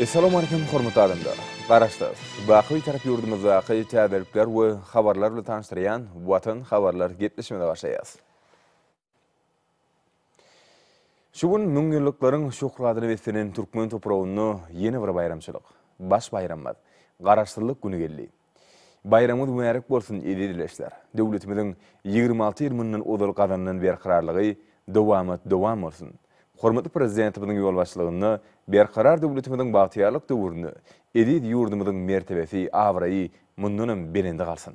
Essalamu Aleýkum hormatly adamlar! Garaşsyz, baky Bitarap ýurdumyzdaky täzelikler we habarlar bilen tanyşdyrýan Watan habarlar gepleşmesine başlaýarys. Şu gün müňýyllyklaryň şöhratyna beslenen türkmen topragynda ýene bir baýramçylyk, baş baýramymyz, Garaşsyzlyk güni geldi. Baýramyňyz mübärek bolsun, eziz ildeşler! Döwletimiziň ýigrimi alty ýyl mundan ozal gazanylan berkararlygy, dowamat dowam bolsun! Hormatly Prezidentimiziň ýolbaşçylygynda Berkarar döwletimiziň bagtyýarlyk döwründe eziz ýurdumyzyň mertebesi, abraýy mundanam belende galsyn!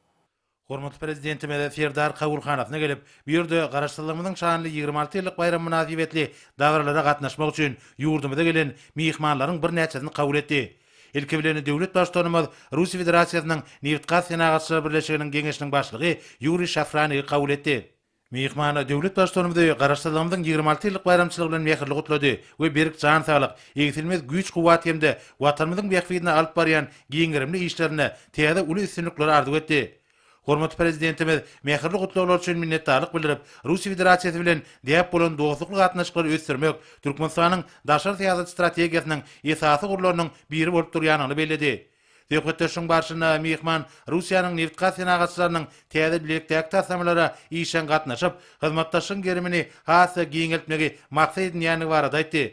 Hormatly Prezidentimiz Serdar kabulhanasyna gelip, bu ýerde Garaşsyzlygymyzyň şanly ýigrimi alty ýyllyk baýramy mynasybetli dabaralara gatnaşmak üçin ýurdumyza gelen myhmanlaryň birnäçesini kabul etdi. Ilki bilen döwlet Baştutanymyz Russiýa Federasiýasynyň Nebitgaz senagatçylar birleşiginiň geňeşiniň başlygy Ýuriý Şafranigi kabul etdi. Myhman döwlet Baştutanymyzy Garaşsyzlygymyzyň ýigrimi alty ýyllyk baýramçylygy bilen mähirli gutlady we berk jan saglyk, egsilmez güýç-kuwwat hem-de Watanymyzyň bähbidine alyp barýan giňgerimli işlerinde täze uly üstünlikleri arzuw etdi. Hormatly Prezidentimiz mähirli gutlaglar üçin minnetdarlyk bildirip, Russiýa Federasiýasy bilen däp bolan dostlukly gatnaşyklary ösdürmek Türkmenistanyň daşary syýasat strategiýasynyň esasy ugurlarynyň biri bolup durýandygyny belledi. Söhbetdeşligiň barşynda myhman Russiýanyň nebitgaz senagatçylarynyň täze bilelikdäki taslamalara işjeň gatnaşyp, hyzmatdaşlygyň gerimini has-da giňeltmegi maksat edinýändigi barada aýtdy.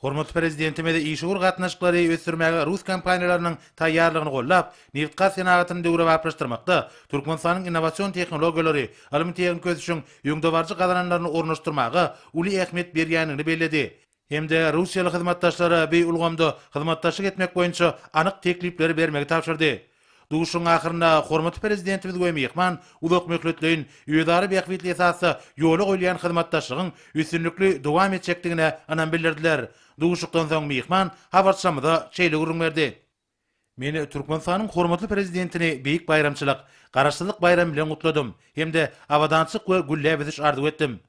Hormatly Prezidentimiz işewür gatnaşyklary ösdürmäge rus kompaniýalarynyň taýýarlygyny goldap, nebitgaz senagatyny döwrebaplaşdyrmakda Türkmenistanyň innowasion tehnologiýalary, ylmy-tehniki ösüşiň öňdebaryjy gazananlaryny ornaşdyrmaga uly ähmiýet berýändigini belledi. hem-de russiýaly hyzmatdaşlara bu ulgamda hyzmatdaşlyk etmek boýunça anyk teklipleri bermegi tabşyrdy. Duşuşygyň ahyrynda hormatly Prezidentimiz we myhman uzakmöhletleýin, özara bähbitli esasda ýola goýulýan hyzmatdaşlygyň üstünlikli dowam etjekdigine ynam bildirdiler. Duşuşykdan soň myhman habarçymyza şeýle gürrüň berdi. Men Türkmenistanyň hormatly Prezidentini beýik baýramçylyk, Garaşsyzlyk baýramy bilen gutladym hem-de abadançylyk we gülläp ösüş arzuw etdim.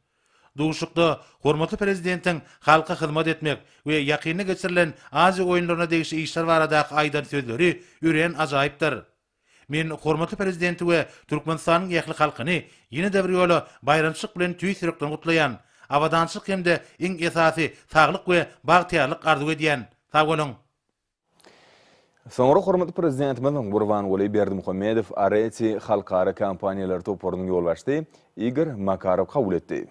Duşuşykda hormatly Prezidentiň halka hyzmat etmek we ýakynda geçirilen Aziýa oýunlaryna degişli işler baradaky aýdan sözleri örän ajaýypdyr. Men hormatly Prezidenti we Türkmenistanyň ähli halkyny ýene-de bir ýola baýramçylyk bilen tüýs ýürekden gutlaýan, abadançylyk hem-de iň esasy saglyk we bagtyýarlyk arzuw edýän. Sag boluň! Soňra hormatly Prezidentimiz Gurbanguly Berdimuhamedow Areti halkara kompaniýalar toparynyň ýolbaşçysy Igor Makarow kabul etdi.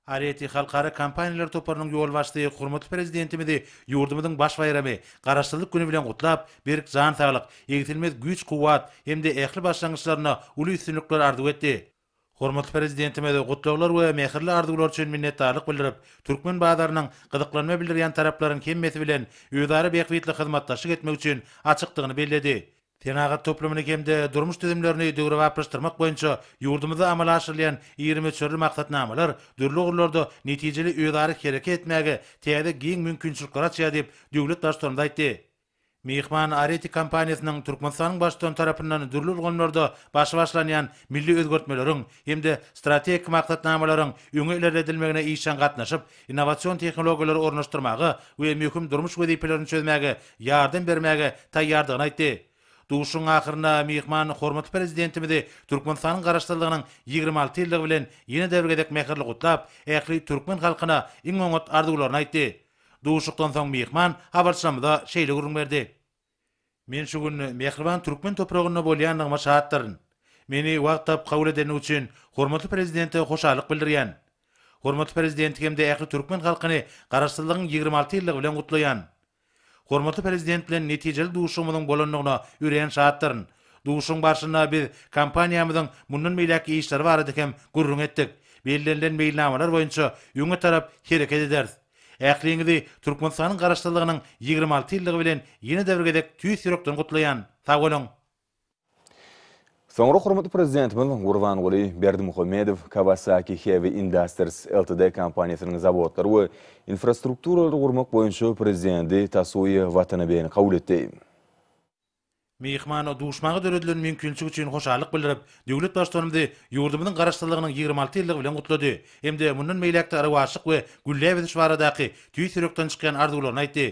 Areti halkara kompaniýalar toparynyň ýolbaşçysy hormatly Prezidentimizi ýurdumyzyň baş baýramy, Garaşsyzlyk güni bilen gutlap, berk jan saglyk, egsilmez güýç-kuwwat hem-de ähli başlangyçlarynda uly üstünlikler arzuw etdi. Hormatly Prezidentimize gutlaglar we mähirli arzuwlar üçin minnetdarlyk bildirip, türkmen bazarynyň gyzyklanma bildirýän taraplaryň hemmesi bilen özara bähbitli hyzmatdaşlyk etmek üçin açykdygyny belledi. Senagat toplumyny hem-de durmuş düzümlerini döwrebaplaşdyrmak boýunça ýurdumyzda amala aşyrylýan iri möçberli maksatnamalar dürli ugurlarda netijeli özara hereket etmäge täze giň mümkinçilikleri açýar diýip, döwlet Baştutanymyz aýtdy. Myhman Areti kompaniýasynyň Türkmenistanyň Baştutany tarapyndan dürli ulgamlarda başy başlanýan milli özgertmeleriň hem-de strategik maksatnamalaryň öňe ilerledilmegine işjeň gatnaşyp, innowasion tehnologiýalary ornaşdyrmaga we möhüm durmuş wezipelerini çözmäge ýardam bermäge taýýardygyny aýtdy. Duşuşygyň ahyrynda myhman hormatly Prezidentimizi Türkmenistanyň Garaşsyzlygynyň ýigrimi alty ýyllygy bilen ýene-de bir gezek mähirli gutlap, ähli türkmen halkyna iň oňat arzuwlaryny aýtdy. Duşuşykdan soň myhman habarçymyza şeýle gürrüň berdi. Men şu gün mähriban türkmen topragynda bolýandygyma şatdyryn. Meni wagt tapyp kabul edeni üçin hormatly Prezidente hoşallyk bildirýän. Hormatly Prezidenti hem-de ähli türkmen halkyny Garaşsyzlygyň ýigrimi alty ýyllygy bilen gutlaýan. Hormatly Prezident bilen netijeli duşuşygymyzyň bolandygyna örän şatdyryn, Duşuşygyň barşynda biz kompaniýamyzyň mundan beýläkki işleri barada hem gürrüň etdik. Bellenilen meýilnamalar boýunça öňe tarap hereket ederis. Ähliňizi Türkmenistanyň Garaşsyzlygynyň ýigrimi alty ýyllygy bilen ýene-de bir gezek tüýs ýürekden gutlaýan. Sag boluň! Soňra hormatly Prezidentimiz Gurbanguly Berdimuhamedow Kawasaki Heavy Industries Ltd. kompaniýasynyň zawodlary we infrastrukturalary gurmak boýunça Prezidenti Tasuýa Watanabeni kabul etdi. Myhmana duşmaga döredilen mümkinçilik üçin hoşallyk bildirip, döwlet Baştutanymyzy ýurdumyzyň Garaşsyzlygynyň ýigrimi alty ýyllygy bilen gutlady hem-de mundan beýläk-de rowaçlyk we gülläp ösüş baradaky tüýs ýürekden çykýan arzuwlaryny aýtdy.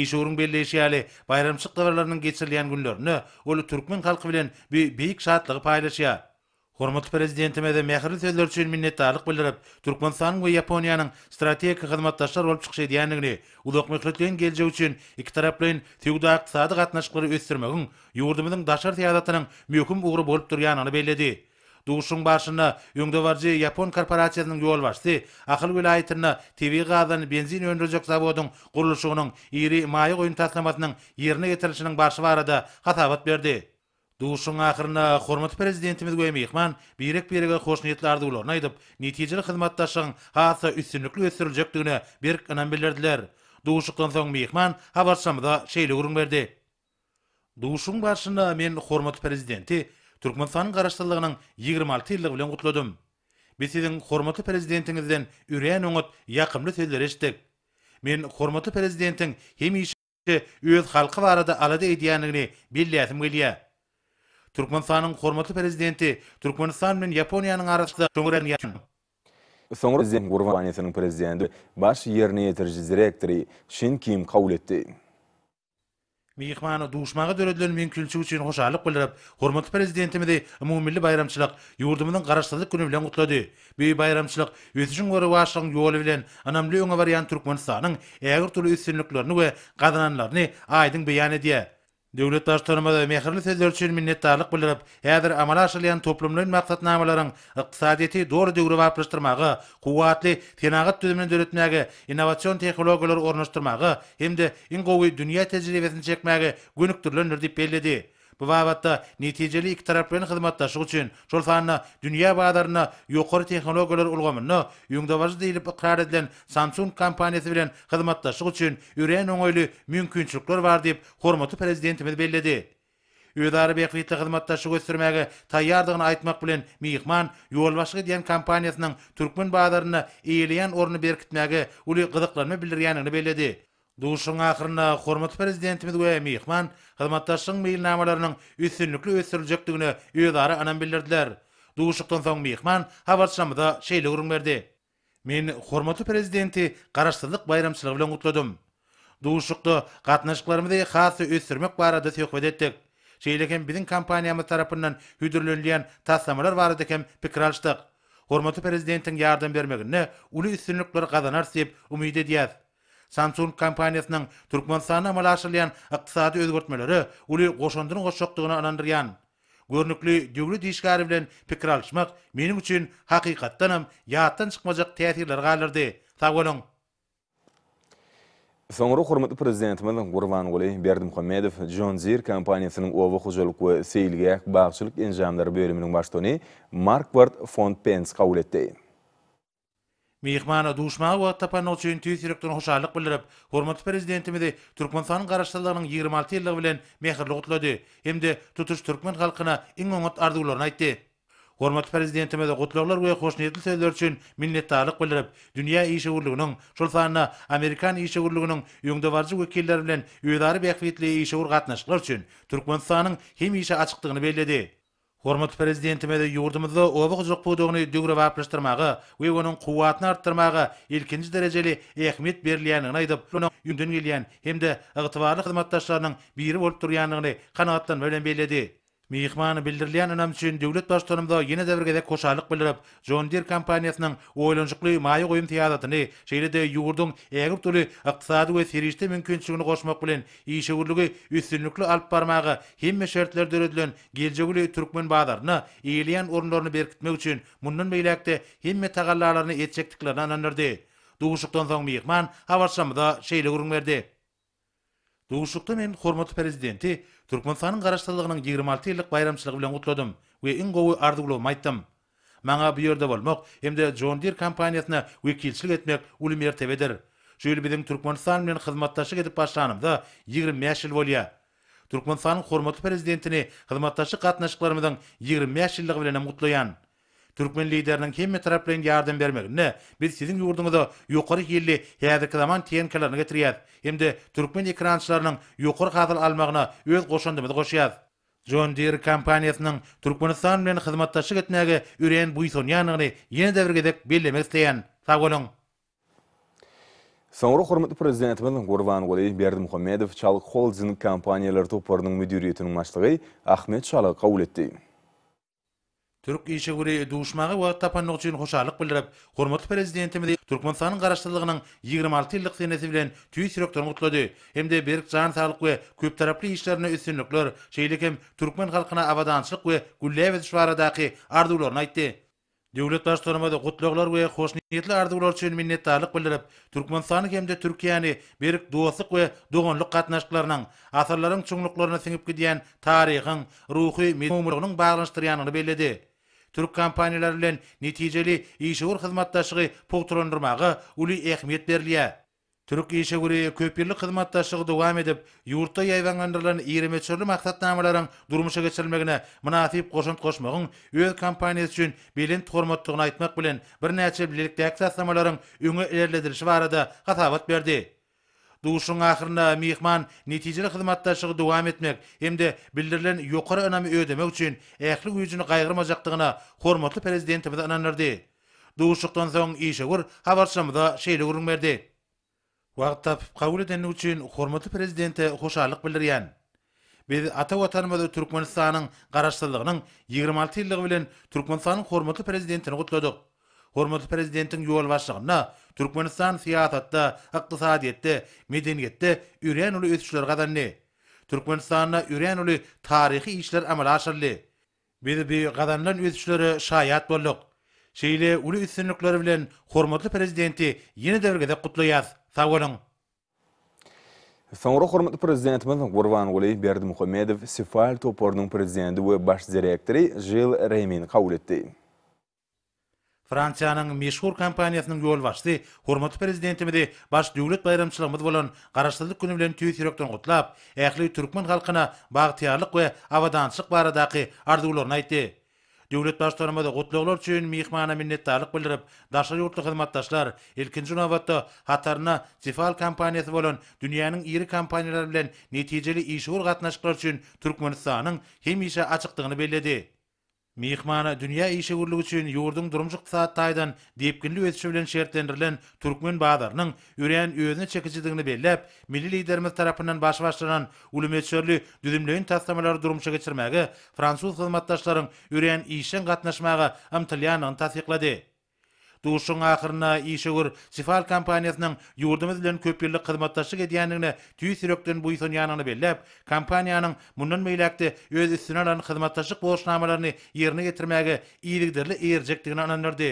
Işewüriň belleýşi ýaly, baýramçylyk dabaralarynyň geçirilýän günlerinde ol türkmen halky bilen bu beýik şatlygy paýlaşýar. Hormatly Prezidentimize mähirli sözleri üçin minnetdarlyk bildirip, Türkmenistanyň we Ýaponiýanyň strategik hyzmatdaşlar bolup çykyş edýändigini, uzak möhletleýin geljek üçin ikitaraplaýyn söwda-ykdysady gatnaşyklary ösdürmegiň ýurdumyzyň daşary syýasatynyň möhüm ugry bolup durýandygyny belledi. Duşuşygyň barşynda öňdebaryjy ýapon korporasiýasynyň ýolbaşçysy Ahal welaýatynda tebigy gazdan benzin öndürjek zawodyň gurluşygynyň iri maýa goýum taslamasynyň ýerine ýetirilişiniň barşy barada hasabat berdi. Duşuşygyň ahyrynda hormatly Prezidentimiz we myhman birek-birege hoşniýetli arzuwlaryny aýdyp, netijeli hyzmatdaşlygyň has-da üstünlikli ösdüriljekdigine berk ynam bildirdiler. Duşuşykdan soň myhman habarçymyza şeýle gürrüň berdi. Duşuşygyň barşynda men hormatly Prezidenti Türkmenistanyň Garaşsyzlygynyň ýigrimi alty ýyllygy bilen gutladym. Biz siziň hormatly Prezidentiňizden örän oňat, ýakymly sözleri eşitdik. Men hormatly Prezidentiň hemişe, öz halky barada alada edýändigini belläsim gelýär. Türkmenistanyň hormatly Prezidenti Türkmenistan bilen Ýaponiýanyň arasynda soňra ýaşan. Soňra Prezident Gurban kompaniýasynyň Prezidenti, Baş ýerine ýetiriji direktory Şin Kim kabul etdi. Myhmana duşmaga döredilen mümkinçilik üçin hoşallyk bildirip, hormatly Prezidentimizi umumymilli baýramçylyk, ýurdumyzyň Garaşsyzlyk güni bilen gutlady. Bu baýramçylyk ösüşiň we rowaçlygyň ýoly bilen ynamly öňe barýan Türkmenistanyň ägirt uly üstünliklerini we gazananlaryny aýdyň beýan edýär. Döwlet Baştutanymyz mähirli sözleri üçin minnetdarlyk bildirip, häzir amala aşyrylýan toplumlaýyn maksatnamalaryň ykdysadyýeti doly döwrebaplaşdyrmaga, kuwwatly senagat düzümini döretmäge, innowasion tehnologiýalary ornaşdyrmaga hem-de iň gowy dünýä tejribesini çekmäge gönükdirilendir diýip belledi. Bu babatda netijeli ikitaraplaýyn hyzmatdaşlyk üçin, şol sanda dünýä bazarynda ýokary tehnologiýalar ulgamynda öňdebaryjy diýlip ykrar edilen Samsung kompaniýasy bilen hyzmatdaşlyk üçin örän oňaýly mümkinçilikler bar diýip, hormatly Prezidentimiz belledi. Özara bähbitli hyzmatdaşlygy ösdürmäge taýýardygyny aýtmak bilen, myhman ýolbaşçylyk edýän kompaniýasynyň türkmen bazarynda eýeleýän ornuny berkitmäge uly gyzyklanma bildirýändigini belledi. Duşuşygyň ahyrynda hormatly Prezidentimiz we myhman hyzmatdaşlygyň meýilnamalarynyň üstünlikli ösdüriljekdigine özara ynam bildirdiler. Duşuşykdan soň myhman habarçymyza şeýle gürrüň berdi, Men hormatly Prezidenti Garaşsyzlyk baýramçylygy bilen gutladym. Duşuşykda gatnaşyklarymyzy has-da ösdürmek barada söhbet etdik. Şeýle hem biziň kompaniýamyz tarapyndan hödürlenilýän taslamalar barada hem pikir alyşdyk. Hormatly Prezidentiň ýardam bermeginde uly üstünlikler gazanarys diýip umyt edýäs. Samsung kompaniýasynyň Türkmenistanda amala aşyrylýan ykdysady özgertmelere uly goşandyny goşjakdygyna ynandyrýan. Görnükli döwlet işgäri bilen pikir alyşmak meniň üçin hakykatdanam ýatdan çykmajak täsirleri galdyrdy. Sag boluň! Soňra hormatly Prezidentimiz Gurbanguly Berdimuhamedow John Deere kompaniýasynyň oba hojalyk we seýilgäh-bagçylyk enjamlary bölüminiň baştugany Markward fon Pens kabul etdi. Myhmana duşmaga wagt tapanyny üçin tüýs ýürekden hoşallyk bildirip, hormatly Prezidentimizi Türkmenistanyň Garaşsyzlygynyň ýigrimi alty ýyllygy bilen mähirli gutlady hem-de tutuş türkmen halkyna iň oňat arzuwlaryny aýtdy. Hormatly Prezidentimiz gutlaglar we hoşniýetli sözler üçin minnetdarlyk bildirip, dünýä işewürliginiň, şol sanda amerikan işewürliginiň öňdebaryjy wekilleri bilen özara bähbitli işewür gatnaşyklar üçin Türkmenistanyň hemişe açykdygyny belledi. Hormatly Prezidentimiz ýurdumyzda oba hojalyk pudagyny döwrebaplaşdyrmaga we onuň kuwwatyny artdyrmaga ilkinji derejeli ähmiýet berilýändigini aýdyp, onuň öňden gelýän hem-de ygtybarly hyzmatdaşlarynyň biri bolup durýandygyny kanagatlanma bilen belledi. Myhmana bildirilýän ynam üçin döwlet Baştutanymyza ýene-de bir gezek hoşallyk bildirip, John Deere kompaniýasynyň oýlanyşykly maýa goýum syýasatyny, şeýle-de ýurduň ägirt uly ykdysady we serişde mümkinçiligini goşmak bilen, işewürligi üstünlikli alyp barmaga hemme şertler döredilen geljegi uly türkmen bazarynda eýeleýän orunlaryny berkitmek üçin mundan beýläk-de hemme tagallalaryny etjekdiklerine ynandyrdy. Duşuşykdan soň myhman habarçymyza şeýle gürrüň berdi. Duşuşykda men hormatly Prezidenti Türkmenistanyň Garaşsyzlygynyň ýigrimi alty ýyllyk baýramçylygy bilen gutladym we iň gowy arzuwlarymy aýtdym. Maňa bu ýerde bolmak hem-de John Deere kompaniýasyna wekilçilik etmek uly mertebedir. Şu ýyl biziň Türkmenistan bilen hyzmatdaşlyk edip başlanymyza ýigrimi bäş ýyl bolýar. Türkmenistanyň hormatly Prezidentini hyzmatdaşlyk gatnaşyklarymyzyň ýigrimi bäş ýyllygy bilenem gutlaýan. Türkmen Lideriniň hemmetaraplaýyn ýardam bermeginde biz siziň ýurduňyza ýokary hilli häzirki zaman tehnikalaryny getirýäs hem-de türkmen ekrançylarynyň ýokary hasyl almagyna öz goşandymyzy goşýas. John Deere kompaniýasynyň Türkmenistan bilen hyzmatdaşlyk etmäge örän buýsanýandygyny ýene-de bir gezek bellemek isleýän. Sag boluň! Soňra hormatly Prezidentimiz Gurbanguly Berdimuhamedow Çalyk Holding kompaniýalary toparynyň müdiriýetiniň başlygy Ahmet Çalygy kabul etdi. Türk işewüri duşmaga wagt tapandygy üçin hoşallyk bildirip, hormatly Prezidentimizi Türkmenistanyň Garaşsyzlygynyň ýigrimi alty ýyllyk senesi bilen tüýs ýürekden gutlady hem-de berk jan saglyk we köptaraply işlerinde üstünlikler, şeýle hem türkmen halkyna abadançylyk we gülläp ösüş baradaky arzuwlaryny aýtdy. Döwlet Baştutanymyz gutlaglar we hoşniýetli arzuwlar üçin minnetdarlyk bildirip, Türkmenistany hem-de Türkiýäni berk dostluk we doganlyk gatnaşyklarynyň, asyrlaryň çuňluklaryna siňip gidýän taryhyň, ruhy mugmylygynyň baglanyşdyrýandygyny belledi. Türk kompaniýalary bilen netijeli işewür hyzmatdaşlygy pugtalandyrmaga uly ähmiýet berilýär. Türk işewüri köpýyllyk hyzmatdaşlygy dowam edip, ýurtda ýaýbaňlandyrylan iri möçberli maksatnamalaryň durmuşa geçirilmegine mynasyp goşant goşmagyň öz kompaniýasy üçin belent hormatdygyny aýtmak bilen, birnäçe bilelikdäki taslamalaryň öňe ilerledilişi barada hasabat berdi. Duşuşygyň ahyrynda myhman netijeli hyzmatdaşlygy dowam etmek hem-de bildirilen ýokary ynamy ödemek üçin ähli güýjüni gaýgyrmajakdygyna hormatly Prezidentimizi ynandyrdy. Duşuşykdan soň işewür habarçymyza şeýle gürrüň berdi. Wagt tapyp, kabul edendigi üçin hormatly Prezidente hoşallyk bildirýän. Biz ata Watanymyzy Türkmenistanyň Garaşsyzlygynyň ýigrimi alty ýyllygy bilen Türkmenistanyň hormatly Prezidentini gutladyk. Hormatly Prezidentiň ýolbaşçylygynda Türkmenistan syýasatda, ykdysadyýetde, medeniýetde örän uly ösüşleri gazandy. Türkmenistanda örän uly taryhy işler amala aşyryldy. Biz bu gazanylan ösüşlere şaýat bolduk. Şeýle uly üstünlikleri bilen hormatly Prezidenti ýene-de bir gezek gutlaýas. Sag boluň! Soňra hormatly Prezidentimiz Gurbanguly Berdimuhamedow Sifal toparynyň prezidenti we baş direktory Žil Remini kabul etdi. Fransiýanyň meşhur kompaniýasynyň ýolbaşçysy hormatly Prezidentimizi baş döwlet baýramçylygymyz bolan Garaşsyzlyk güni bilen tüýs ýürekden gutlap, ähli türkmen halkyna bagtyýarlyk we abadançylyk baradaky arzuwlaryny aýtdy. Döwlet Baştutanymyz gutlaglar üçin myhmana minnetdarlyk bildirip, daşary ýurtly hyzmatdaşlar, ilkinji nobatda, hatarynda Tefal kompaniýasy bolan dünýäniň iri kompaniýalary bilen netijeli işewür gatnaşyklar üçin Türkmenistanyň hemişe açykdygyny belledi. Myhmana dünýä işewürligi üçin ýurduň durmuş-ykdysady taýdan depginli ösüşi bilen şertlendirilen türkmen bazarynyň örän özüne çekijidigini belläp, milli Liderimiz tarapyndan baş başlanan uly möçberli düzümleýin taslamalary durmuşa geçirmäge fransuz hyzmatdaşlaryň örän işjeň gatnaşmaga ymtylýandygyny tassyklady. Duşuşygyň ahyrynda işewür Sifal kompaniýasynyň ýurdumyz bilen köpýyllyk hyzmatdaşlyk edýändigine tüýs ýürekden buýsanýandygyny belläp, kompaniýanyň mundan beýläk-de öz üstüne alan hyzmatdaşlyk borçnamalaryny ýerine ýetirmäge yzygiderli eýerjekdigini ynandyrdy.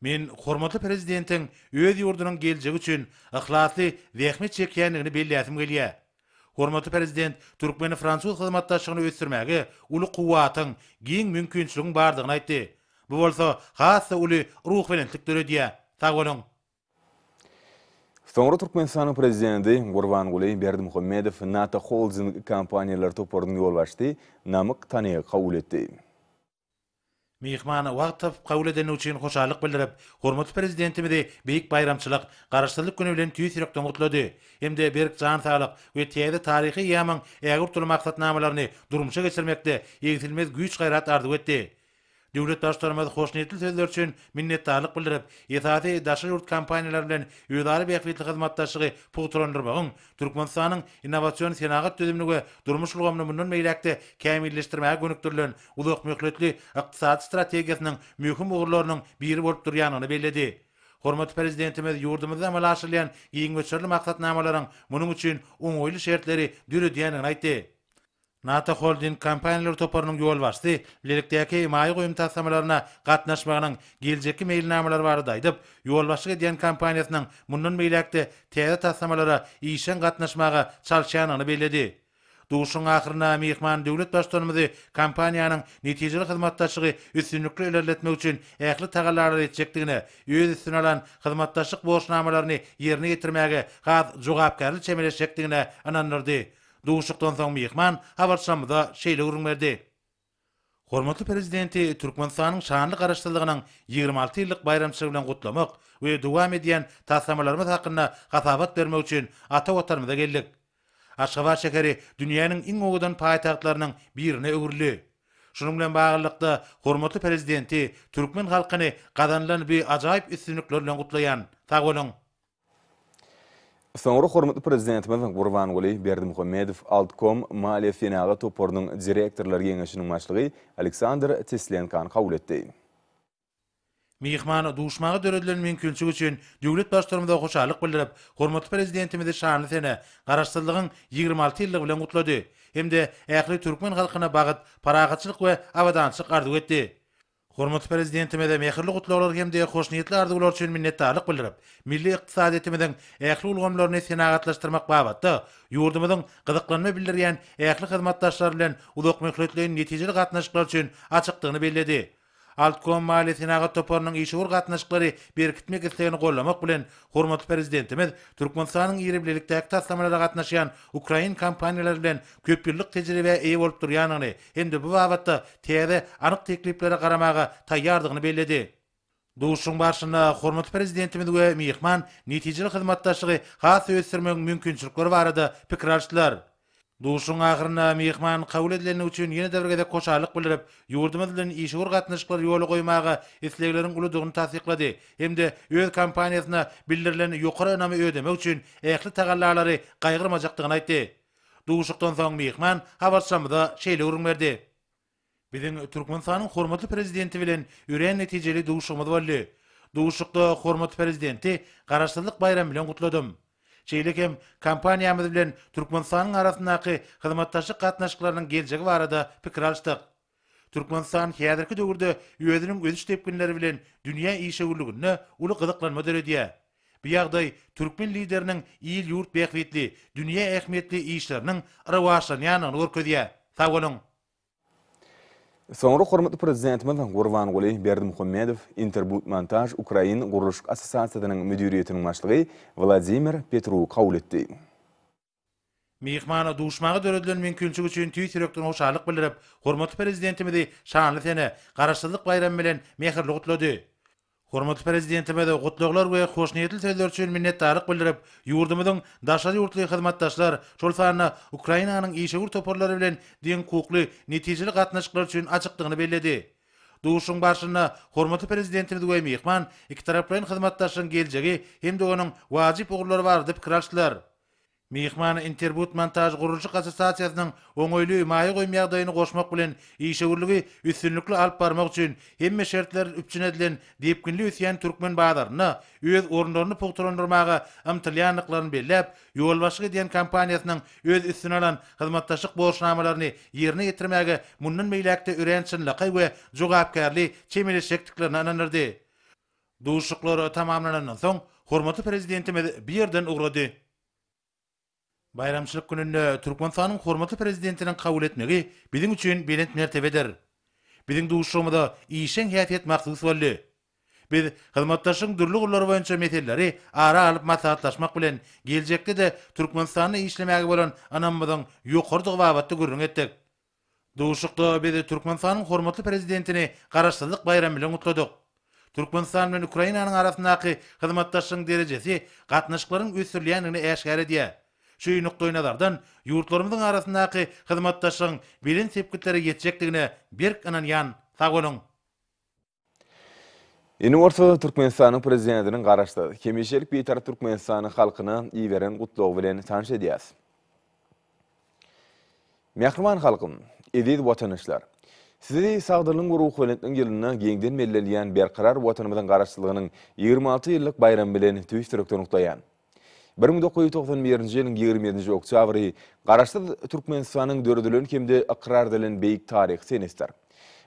Men hormatly Prezidentiň öz ýurdunyň geljegi üçin yhlasly zähmet çekýändigini belläsim gelýär. Hormatly Prezident türkmeni-fransuz hyzmatdaşlygyny ösdürmäge uly kuwwatyň, giň mümkinçiligiň bardygyny aýtdy. Bu bolsa has-da uly ruhubelentlik döredýär. Sag boluň! Soňra Türkmenistanyň Prezidenti Gurbanguly Berdimuhamedow NATO Holding kompaniýalar toparynyň ýolbaşçysy Namyk Tanygy kabul etdi. Myhmany wagt tapyp kabul edeni üçin hoşallyk bildirip, hormatly Prezidentimizi beýik baýramçylyk, Garaşsyzlyk güni bilen tüýs ýürekden gutlady hem-de berk jan saglyk we täze taryhy eýýamyň ägirt uly maksatnamalaryny durmuşa geçirmekde egsilmez güýç-gaýrat arzuw etdi. Döwlet Baştutanymyz hoşniýetli sözleri üçin minnetdarlyk bildirip, esasy daşary ýurt kompaniýalary bilen özara bähbitli hyzmatdaşlygy pugtalandyrmagyň, Türkmenistanyň innowasion senagat düzümini we durmuş ulgamyny mundan beýläk-de kämilleşdirmäge gönükdirilen uzakmöhletli ykdysady strategiýasynyň möhüm ugurlarynyň biri bolup durýandygyny belledi. Hormatly Prezidentimiz ýurdumyzda amala aşyrylýan giň möçberli maksatnamalaryň munuň üçin oňaýly şertleri döredýändigini aýtdy. NATO Holding kompaniýalar toparynyň ýolbaşçysy bilelikdäki maýa goýum taslamalaryna gatnaşmagynyň geljekki meýilnamalary barada aýdyp, ýolbaşçylyk edýän kompaniýasynyň mundan beýläk-de täze taslamalara işjeň gatnaşmaga çalyşýandygyny belledi. Duşuşygyň ahyrynda myhman döwlet Baştutanymyzy kompaniýanyň netijeli hyzmatdaşlygy üstünlikli ilerletmek üçin ähli tagallalary etjekdigine, öz üstüne alan hyzmatdaşlyk borçnamalaryny ýerine ýetirmäge has jogapkärli çemeleşjekdigine ynandyrdy. Duşuşykdan soň myhman habarçymyza şeýle gürrüň berdi. Hormatly Prezidenti Türkmenistanyň şanly Garaşsyzlygynyň ýigrimi alty ýyllyk baýramçylygy bilen gutlamak we dowam edýän taslamalarymyz hakynda hasabat bermek üçin ata Watanymyza geldik. Aşgabat şäheri dünýäniň iň owadan paýtagtlarynyň birine öwrüldi. Şunuň bilen baglylykda, hormatly Prezidenti, türkmen halkyny gazanylan bi ajaýyp üstünlikler bilen gutlaýan. Sag boluň! Soňra hormatly Prezidentimiz Gurbanguly Berdimuhamedow Altkom maliýe-senagat toparynyň direktorlar geňeşiniň başlygy Aleksandr Teslenkany kabul etdi. Myhman duşmaga döredilen mümkinçilik üçin döwlet Başturamyza hoşallyk bildirip, hormatly Prezidentimizi şanly sene, Garaşsyzlygyň ýigrimi alty ýyllygy bilen gutlady hem-de ähli türkmen halkyna bagyt, parahatçylyk we abadançylyk arzuw etdi. Hormatly Prezidentimize mähirli gutlaglar hem-de hoşniýetli arzuwlar üçin minnetdarlyk bildirip, milli ykdysadyýetimiziň ähli ulgamlaryny senagatlaşdyrmak babatda ýurdumyzyň gyzyklanma bildirýän ähli hyzmatdaşlar bilen uzakmöhletleýin netijeli gatnaşyklar üçin açykdygyny belledi. Altkom maliýe-senagat toparynyň işewür gatnaşyklary berkitmek islegini gollamak bilen, hormatly Prezidentimiz Türkmenistanyň ýerbilelikdäki taslamalara gatnaşýan ukrain kompaniýalary bilen köp ýyllyk tejribä eýe bolup durýandygyny hem-de bu babatda täze, anyk tekliplere garamaga taýýardygyny belledi. Duşuşygyň barşynda hormatly Prezidentimiz we myhman netijeli hyzmatdaşlygy has-da ösdürmegiň mümkinçilikleri barada pikir alşdylar. Duşuşygyň ahyrynda myhman kabul edilendigi üçin ýene-de bir gezek hoşallyk bildirip, ýurdumyz bilen işewür gatnaşyklary ýola goýmaga islegleriň uludygyny tassyklady hem-de öz kompaniýasyna bildirilen ýokary ynamy ödemek üçin ähli tagallalary gaýgyrmajakdygyny aýtdy. Duşuşykdan soň myhman habarçymyza şeýle gürrüň berdi. Biziň Türkmenistanyň hormatly Prezidenti bilen örän netijeli duşuşygymyz boldy. Duşuşykda hormatly Prezidenti Garaşsyzlyk baýramy bilen gutladym. Şeýle hem kompaniýamyz bilen Türkmenistanyň arasyndaky hyzmatdaşlyk gatnaşyklarynyň geljegi barada pikir alyşdyk. Türkmenistan häzirki döwürde özüniň ösüş depginleri bilen dünýä işewürliginde uly gyzyklanma döredýär. Bu ýagdaý türkmen Lideriniň il-ýurt bähbitli, dünýä ähmiýetli işleriniň rowaçlanýandygyny görkezýär. Sag boluň! Soňra hormatly Prezidentimiz Gurbanguly Berdimuhamedow Interbudmontaž Ukrain gurluşyk assosiasiýasynyň müdiriýetiniň başlygy Wladimir Petru kabul etdi. Myhmana duşmaga döredilen mümkinçilik üçin tüýs ýürekden hoşallyk bildirip, hormatly Prezidentimizi şanly sene, Garaşsyzlyk baýramy bilen mähirli gutlady. Hormatly Prezidentimize gutlaglar we hoşniýetli sözler üçin minnetdarlyk bildirip, ýurdumyzyň daşary ýurtly hyzmatdaşlar, şol sanda Ukrainanyň işewür toparlary bilen deňhukukly, netijeli gatnaşyklar üçin açykdygyny belledi. Duşuşygyň barşynda hormatly Prezidentimiz we myhman ikitaraplaýyn hyzmatdaşlygyň geljegi hem-de onuň wajyp ugurlary barada pikir alşdylar. Myhman Interbudmontažgurluşyk assosiasiýasynyň oňaýly maýa goýum ýagdaýyny goşmak bilen işewürligi üstünlikli alyp barmak üçin hemme şertler üpjün edilen depginli ösýän türkmen bazarynda öz orunlaryny pugtalandyrmaga ymtylýandyklaryny belläp, Ýolbaşçyk edýän kompaniýasynyň öz üstüne alan hyzmatdaşlyk borçnamalaryny ýerine ýetirmäge mundan beýläk-de örän çynlakaý we jogapkärli çemeleşjekdiklerine ynandyrdy. Duşuşyklar tamamlanandan soň, hormatly Prezidentimiz bu ýerden ugrady. Baýramçylyk gününde Türkmenistanyň hormatly Prezidentiniň kabul etmegi biziň üçin belent mertebedir. Biziň duşuşygymyza işjeň häsiýet mahsus boldy. Biz hyzmatdaşlygyň dürli gurlary boýunça meseleleri ara alyp maslahatlaşmak bilen, geljekde-de Türkmenistanda işlemäge bolan ynamymyzyň ýokarydygy babatda gürrüň etdik. Duşuşykda biz Türkmenistanyň hormatly Prezidentini Garaşsyzlyk baýramy bilen gutladyk. Türkmenistan bilen Ukrainanyň arasyndaky hyzmatdaşlygyň derejesi gatnaşyklaryň ösdürilýändigini äşgär edýär. Şu nukdaýnazardan, ýurtlarymyzyň arasyndaky hyzmatdaşlygyň belent sepgitlere ýetjekdigine berk ynanýan. Sag boluň! Ini bolsa Türkmenistanyň prezidentiniň Garaşsyz, hemişelik Bitarap Türkmenistanyň halkyna iberen gutlagy bilen tanyş edýäs. Mähriban halkym, eziz watanyşlar! Sizi sagdynlygyň we ruhubelentligiň ýylynda giňden bellenilýän berkarar Watanymyzyň Garaşsyzlygynyň ýigrimi alty ýyllyk baýramy bilen tüýs ýürekden gutlaýan. Bir müň dokuz ýüz togsan birinji ýylyň ýigrimi ýedinji oktýabry Garaşsyz Türkmenistanyň döredilen hem-de ykrar edilen beýik taryhy senesdir.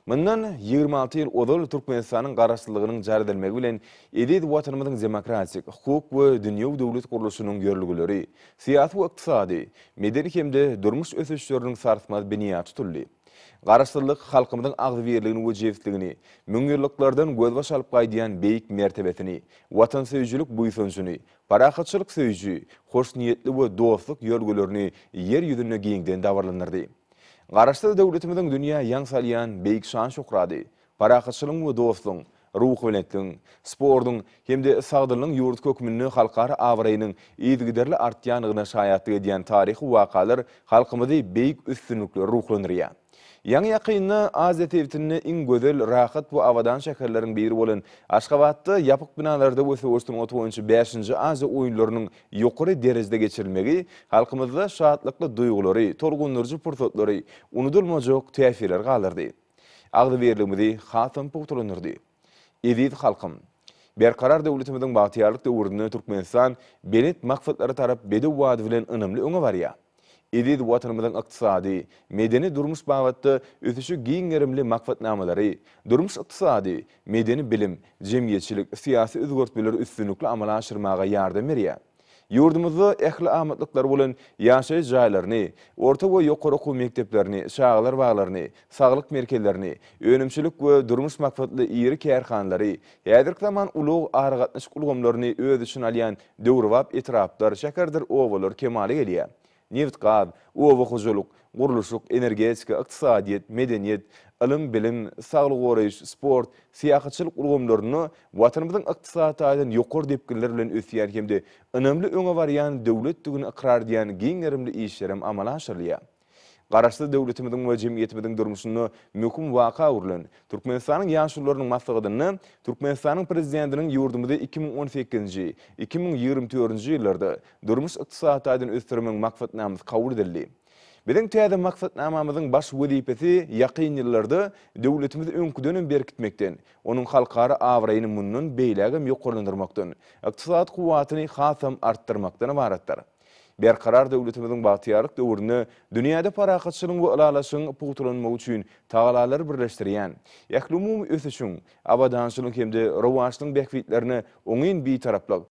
Mundan ýigrimi alty ýyl ozal Türkmenistanyň Garaşsyzlygynyň jar edilmegi bilen eziz Watanymyzyň demokratik, hukuk we dünýewi döwlet gurluşynyň ýörelgeleri, syýasy we ykdysady, medeni hem-de durmuş ösüşleriniň sarsmaz binýady tutuldy. Garaşsyzlyk halkymyzyň agzybirligini we jebisligini, müňýyllyklardan gözbaş alyp gaýdýan beýik mertebesini, watansöýüjilik buýsanjyny, parahatçylyk söýüji, hoşniýetli we dostluk ýörgülerini Ýer ýüzünde giňden dabaralandyrdy. Garaşsyz döwletimiziň dünýä ýaň salýan beýik şan-şöhrady, parahatçylygyň we dostlugyň, ruhubelentligiň, sportuň hem-de sagdynlygyň ýurdy hökmünde halkara abraýynyň yzygiderli artýandygyna şaýatlyk edýän taryhy wakalar halkymyzy beýik üstünliklere ruhlandyrýar. Ýaňy-ýakynda Aziýa sebitinde iň gözel, rahat we abadan şäherleriň biri bolan Aşgabatda ýapyk binalarda we söweş sungaty boýunça bäşinji Aziýa oýunlarynyň ýokary derejede geçirilmegi halkymyzda şatlykly duýgulary, tolgundyryjy pursatlary, unudylmajak täsirleri galdyrdy. Agzybirligimizi hasam pugtalandyrdy. Eziz halkym! Berkarar döwletimiziň bagtyýarlyk döwründe Türkmenistan belent maksatlara tarap bedew wady bilen ynamly öňe barýar. Eziz Watanymyzyň ykdysady, medeni-durmuş babatda ösüşi giň gerimli maksatnamalary, durmuş-ykdysady, medeni-bilim, jemgyýetçilik, syýasy özgertmeleri üstünlikli amala aşyrmaga ýardam berýär. Ýurdumyzda ähli amatlyklary bolan ýaşaýyş jaýlaryny, orta we ýokary okuw mekdeplerini, çagalar baglaryny, saglyk merkezlerini, önümçilik we durmuş maksatly iri kärhanalary, häzirki zaman ulag-aragatnaşyk ulgamlaryny öz içine alýan döwrebap etraplar, şäherdir obalar kemala gelýär. Nebit-gaz, oba hojalyk, gurluşyk, energetika, ykdysadyýet, medeniýet, ylym-bilim, saglygy goraýyş, sport, syýahatçylyk ulgamlarynda Watanymyzyň ykdysady taýdan ýokary depginler bilen ösýän hem-de ynamly öňe barýan döwletdigini ykrar edýän giň gerimli işlerem amala aşyrylýar. Garaşsyz döwletimiziň we jemgyýetimiziň durmuşynda möhüm waka öwrülen Türkmenistanyň Ýaşulularynyň maslahatynda Türkmenistanyň Prezidentiniň ýurdumyzy iki müň on sekizinji, iki müň ýigrimi dördünji ýyllarda Durmuş-ykdysady taýdan ösdürmegiň maksatnamasy kabul edildi. Biziň täze maksatnamamyzyň baş wezipesi ýakyn ýyllarda döwletimizi öňküdenem berkitmekden, onuň halkara abraýyny mundan beýlägem ýokarlandyrmakdan, ykdysady kuwwatyny hasam artdyrmakdan ybaratdyr. Berkarar döwletimiziň bagtyýarlyk döwründe dünýäde parahatçylygyň we ylalaşygyň pugtalanmagy üçin tagalary birleşdirýän, ählumumy ösüşiň, abadançylygyň hem-de rowaçlygyň bähbitlerine oňyn Bitaraplyk,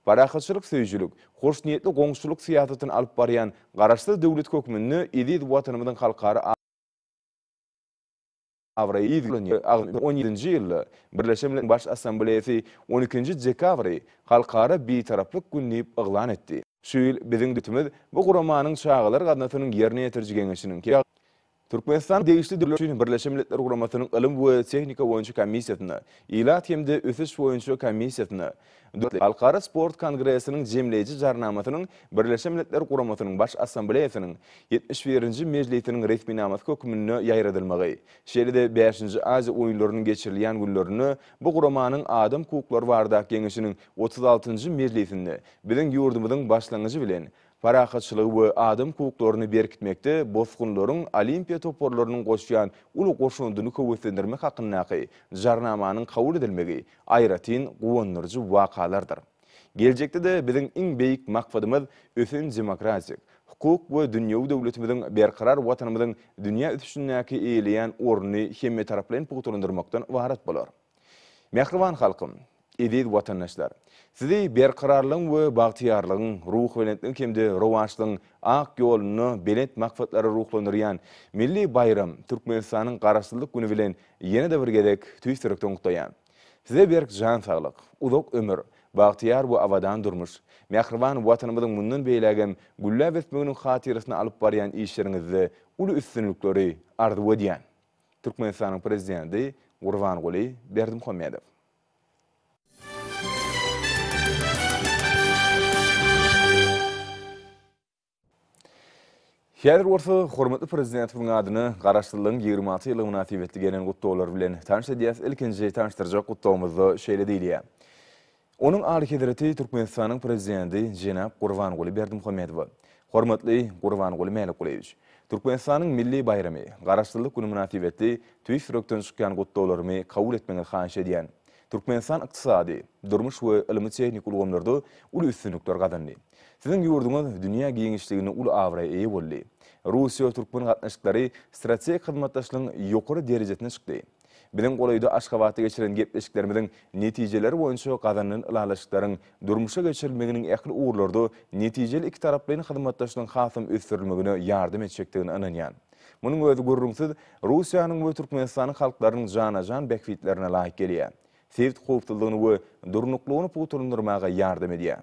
Parahatçylyk söýüjilik, hoşniýetli goňşuçylyk syýasatyny alyp barýan Garaşsyz döwlet hökmünde eziz Watanymyzyň halkara abraýy yzgilerine agzalan on ýedinji ýylda Birleşen Milletler Baş Assambleýasy on ikinji dekabry Halkara Bitaraplyk güni diýip yglan etdi. Şu ýyl biziň döwletimiz bu guramanyň Çagalar gaznasynyň ýerine ýetiriji geňeşiniň, Türkmenistanyň degişli döwlet üçin Birleşen Milletler Guramasynyň Ylym we tehnika boýunça komissiýasyna, Ilat hem-de ösüş boýunça komissiýasyna, dörtünji Halkara sport kongresiniň Jemleýji Jarnamasynyň Birleşen Milletler Guramasynyň Baş Assambleýasynyň ýetmiş birinji mejlisiniň resminamasy hökmünde ýaýradylmagy, şeýle-de bäşinji Aziýa oýunlarynyň geçirilýän günlerinde bu guramanyň Adam hukuklary baradaky geňeşiniň otuz altynjy mejlisinde biziň ýurdumyzyň başlangyjy bilen parahatçylygy we adam hukuklaryny berkitmekde bosgunlaryň olimpiýa toparlarynyň goşýan uly goşandyny höweslendirmek hakyndaky Jarnamanyň kabul edilmegi aýratyn guwandyryjy wakalardyr. Geljekde-de biziň iň beýik maksadymyz ösen demokratik, hukuk we dünýewi döwletimiziň berkarar Watanymyzyň dünýä ösüşindäki eýeleýän ornuny hemmetaraplaýyn pugtalandyrmakdan ybarat bolar. Mähriban halkym! Eziz watandaşlar! Sizi berkararlygyň we bagtyýarlygyň, ruhubelentligiň hem-de rowaçlygyň ak ýolunda belent maksatlara ruhlandyrýan milli baýram, Türkmenistanyň Garaşsyzlyk güni bilen ýene-de bir gezek tüýs ýürekden gutlaýan. Size berk jan saglyk, uzak ömür, bagtyýar we abadan durmuş, mähriban Watanymyzyň mundan beýlägem gülläp ösmeginiň hatyrasyna alyp barýan işleriňizde uly üstünlikleri arzuw edýän. Türkmenistanyň Prezidenti Gurbanguly Berdimuhamedow. Häzir bolsa hormatly Prezidentimiziň adyna Garaşsyzlygyň ýigrimi alty ýyllygy mynasybetli gelen gutlaglar bilen tanyş edýäs. Ilkinji tanyşdyrjak gutlagymyzda şeýle diýilýär. Onuň Alyhezreti Türkmenistanyň Prezidenti jenap Gurbanguly Berdimuhamedowa, Hormatly Gurbanguly Mälikgulyýewiç! Türkmenistanyň milli baýramy, Garaşsyzlyk güni mynasybetli tüýs ýürekden çykýan gutlaglarymy kabul etmegiňizi haýyş edýän. Türkmenistan ykdysady, durmuş we ylmy-tehniki ulgamlarda uly üstünlikler gazandy. Siziň ýurduňyz dünýä giňişliginde uly abraýa eýe boldy. Russiýa-türkmen gatnaşyklary strategik hyzmatdaşlygyň ýokary derejesine çykdy. Biziň golaýda Aşgabatda geçiren gepleşiklerimiziň netijeleri boýunça gazanylan ylalaşyklaryň durmuşa geçirilmeginiň ähli ugurlarda netijeli ikitaraplaýyn hyzmatdaşlygyň hasam ösdürilmegine ýardam etjekdigine ynanýan. Munuň özi gürrüňsiz Russiýanyň we Türkmenistanyň halklarynyň jana-jan bähbitlerine laýyk gelýär, sebit howpsuzlygyny we durnuklygyny pugtalandyrmaga ýardam edýär.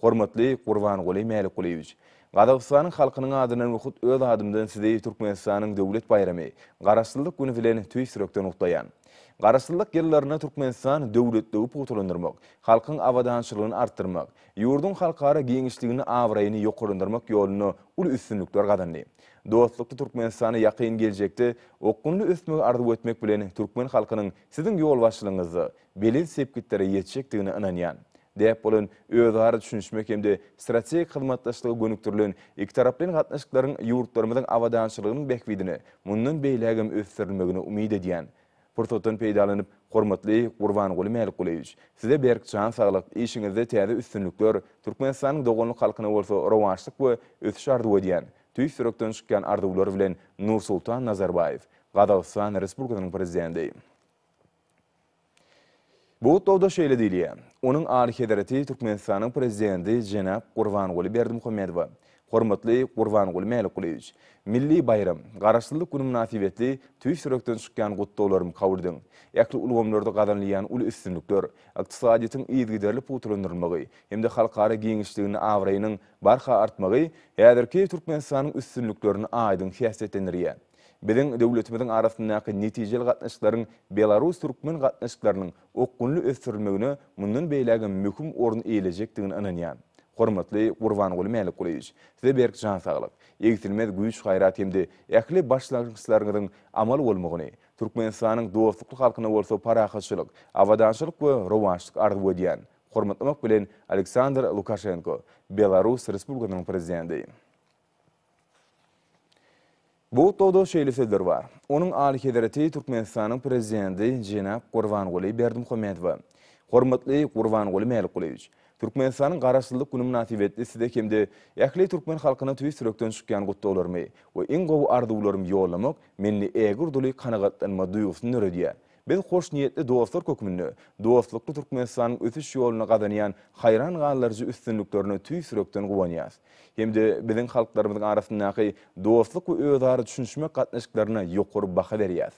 Hormatly Gurbanguly Mälikgulyýewiç! Gazagystanyň halkynyň adyndan we hut öz adymdan Sizi Türkmenistanyň döwlet baýramy, Garaşsyzlyk güni bilen tüýs ýürekden gutlaýan. Garaşsyzlyk ýyllarynda Türkmenistan döwletligi pugtalandyrmak, halkyň abadançylygyny artdyrmak, ýurduň halkara giňişligini, abraýyny ýokarlandyrmak ýolunda uly üstünlikler gazandy. Dostlukly Türkmenistany ýakyn geljekde okgunly ösmegi arzuw etmek bilen türkmen halkynyň Siziň ýolbaşçylygyňyzda belent sepgitlere ýetjekdigine ynanýan, däp bolan özara düşünişmek hem-de strategik hyzmatdaşlyga gönükdirilen ikitaraplaýyn gatnaşyklaryň ýurtlarymyzyň abadançylygynyň bähbidine mundan beýlägem ösdürilmegini umyt edýän. Pursatdan peýdalanyp, hormatly Gurbanguly Mälikgulyýewiç, Size berk jan saglyk, işiňizde täze üstünlikler, Türkmenistanyň doganlyk halkyna bolsa rowaçlyk we ösüş arzuw edýän, tüýs ýürekden çykýan arzuwlar bilen Nursultan Nazarbaýew. Gazagystan Respublikasynyň Prezidenti. Bu gutlagda şeýle diýilýär, Onuň Alyhezreti Türkmenistanyň Prezidenti jenap Gurbanguly Berdimuhamedowa, Hormatly Gurbanguly Mälikgulyýewiç, milli baýram, Garaşsyzlyk güni mynasybetli tüýs ýürekden çykýan gutlaglarymy kabul ediň. Ähli ulgamlarda gazanylýan uly üstünlikler, ykdysadyýetiň yzygiderli pugtalandyrylmagy hem-de halkara giňişliginde abraýynyň barha artmagy häzirki Türkmenistanyň üstünliklerini aýdyň häsiýetlendirýär. Biziň döwletimiziň arasyndaky netijeli gatnaşyklaryň belarus-türkmen gatnaşyklarynyň okgunly ösdürilmegine mundan beýlägem möhüm orun eýelejekdigine ynanýan. Hormatly Gurbanguly Mälikgulyýewiç, Size berk jan saglyk, egsilmez güýç-gaýrat hem-de ähli başlangyçlaryňyzyň amal bolmagyny, Türkmenistanyň dostlukly halkyna bolsa parahatçylyk, abadançylyk we rowaçlyk arzuw edýän. Hormatlamak bilen, Aleksandr Lukaşenko, Belarus Respublikasynyň Prezidenti. Bu hutbada şeýle sözler bar, Onuň Alyhezreti Türkmenistanyň Prezidenti jenap Gurbanguly Berdimuhamedowa. Hormatly Gurbanguly Mälikgulyýewiç! Türkmenistanyň Garaşsyzlyk güni mynasybetli Size hem-de ähli türkmen halkyna tüýs ýürekden çykýan gutlaglarymy we iň gowy arzuwlarymy ýollamak mende ägirt uly kanagatlanma duýgusyny döredýär. Biz hoşniýetli dostlar hökmünde dostlukly Türkmenistanyň ösüş ýolunda gazanýan haýran galdyryjy üstünliklerine tüýs ýürekden guwanýas hem-de biziň halklarymyzyň arasyndaky dostluk we özara düşünişmek gatnaşyklaryna ýokary baha berýäs.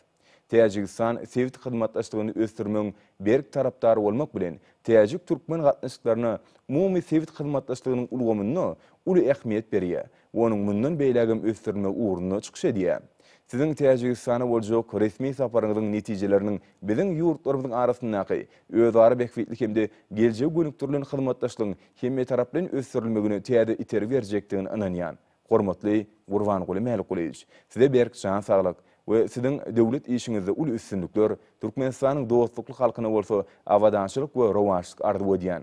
Täjigistan sebit hyzmatdaşlygyny ösdürmegiň berk tarapdary bolmak bilen, täjik-türkmen gatnaşyklaryna umumy sebit hyzmatdaşlygynyň ulgamynda uly ähmiýet berýär we onuň mundan beýlägem ösdürilmegi ugrunda çykyş edýär. Siziň Täjigistana boljak resmi saparyňyzyň netijeleriniň biziň ýurtlarymyzyň arasyndaky özara bähbitli hem-de geljege gönükdirilen hyzmatdaşlygyň hemmetaraplaýyn ösdürilmegine täze itergi berjekdigine ynanýan. Hormatly Gurbanguly Mälikgulyýewiç, Size berk jan saglyk we Siziň döwlet işiňizde uly üstünlikler, Türkmenistanyň dostlukly halkyna bolsa abadançylyk we rowaçlyk arzuw edýän.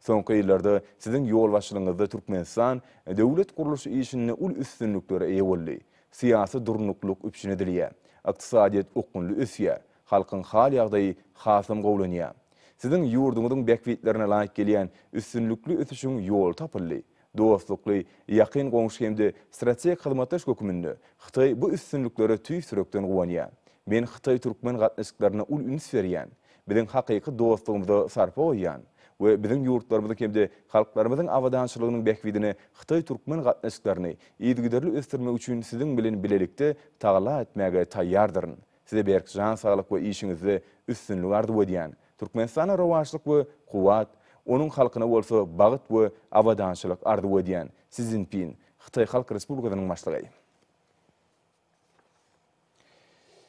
Soňky ýyllarda siziň ýolbaşçylygyňyzda Türkmenistan döwlet gurluş işinde uly üstünliklere eýe boldy. Syýasy durnuklylyk üpjün edilýär. Ykdysadyýet okgunly ösýär. Halkyň hal-ýagdaýy hasam gowulanýar. Siziň ýurduňyzyň bähbitlerine laýyk gelýän üstünlikli ösüşiň ýoly tapyldy. Dostlukly, ýakyn goňşy hem-de strategik hyzmatdaş hökmünde Hytaý bu üstünliklere tüýs ýürekden guwanýar. Men hytaý-türkmen gatnaşyklaryna uly üns berýän, biziň hakyky dostlugymyza sarpa goýýan we biziň ýurtlarymyzyň hem-de halklarymyzyň abadançylygynyň bähbidine hytaý-türkmen gatnaşyklaryny yzygiderli ösdürmek üçin siziň bilen bilelikde tagalla etmäge taýýardyryn, Size berk jan saglyk we işiňizde üstünlik arzuw edýän. Türkmenistana rowaçlyk we kuwwat, onuň halkyna bolsa bagt we abadançylyk arzuw edýän. Si Szinpin, Hytaý Halk Respublikasynyň Başlygy.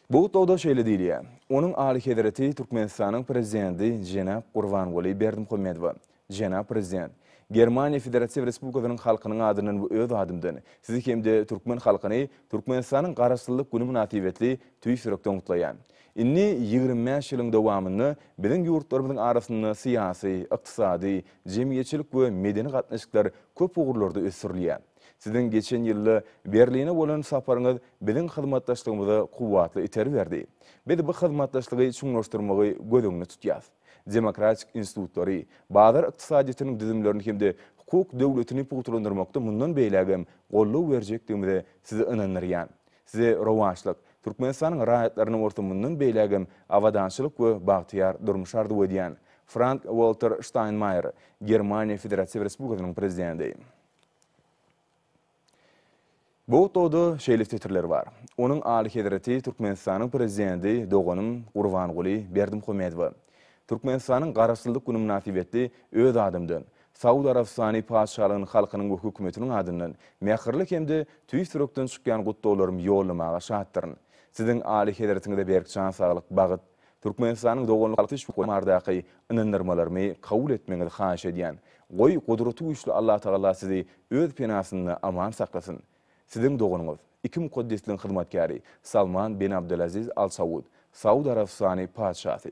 Bu gutlagda şeýle diýilýär, Onuň Alyhezreti Türkmenistanyň Prezidenti jenap Gurbanguly Berdimuhamedowa, Jenap Prezident, Germaniýa Federatiw Respublikasynyň halkynyň adyndan we öz adymdan Sizi hem-de türkmen halkyny Türkmenistanyň Garaşsyzlyk güni mynasybetli tüýs ýürekden gutlaýan. Indi ýigrimi bäş ýylyň dowamynda biziň ýurtlarymyzyň arasynda syýasy, ykdysady, jemgyýetçilik we medeni gatnaşyklar köp ugurlarda ösdürilýär. Siziň geçen ýylda Berline bolan saparyňyz biziň hyzmatdaşlygymyza kuwwatly itergi berdi. Biz bu hyzmatdaşlygy çuňlaşdyrmagy göz öňünde tutýas. demokratik institutlary, bazar ykdysadyýetiniň düzümlerini hem-de hukuk döwletini pugtalandyrmakda mundan beýlägem goldaw berjekdigimize sizi ynandyrýan. Size rowaçlyk, Türkmenistanyň raýatlaryna bolsa mundan beýlägem abadançylyk we bagtyýar durmuş arzuw edýän. Frank-Walter Ştaýnmaýer, Germaniýa Federatiw Respublikasynyň Prezidenti. Bu otagda şeýle setirler bar. Onuň Alyhezreti Türkmenistanyň Prezidenti doganym Gurbanguly Berdimuhamedowa, Türkmenistanyň Garaşsyzlyk güni mynasybetli öz adymdan, Saud Arabystany Patyşalygynyň halkynyň we hökümetiniň adyndan mähirli hem-de tüýs ýürekden çykýan gutlaglarym ýollamaga şatdyryn. Siziň Alyhezretiňize berk jan saglyk, bagyt, Türkmenistanyň doganlyk halky şuhmardaky ynandyrmalarymy kabul etmegiňizi haýyş edýän. Goý Gudraty güýçli Allatagala sizi öz penasynda aman saklasyn. Siziň doganyňyz, iki mukaddesligiň hyzmatkäri Salman bin Abdulaziz Al Saud, Saud Arabystany Patyşasy.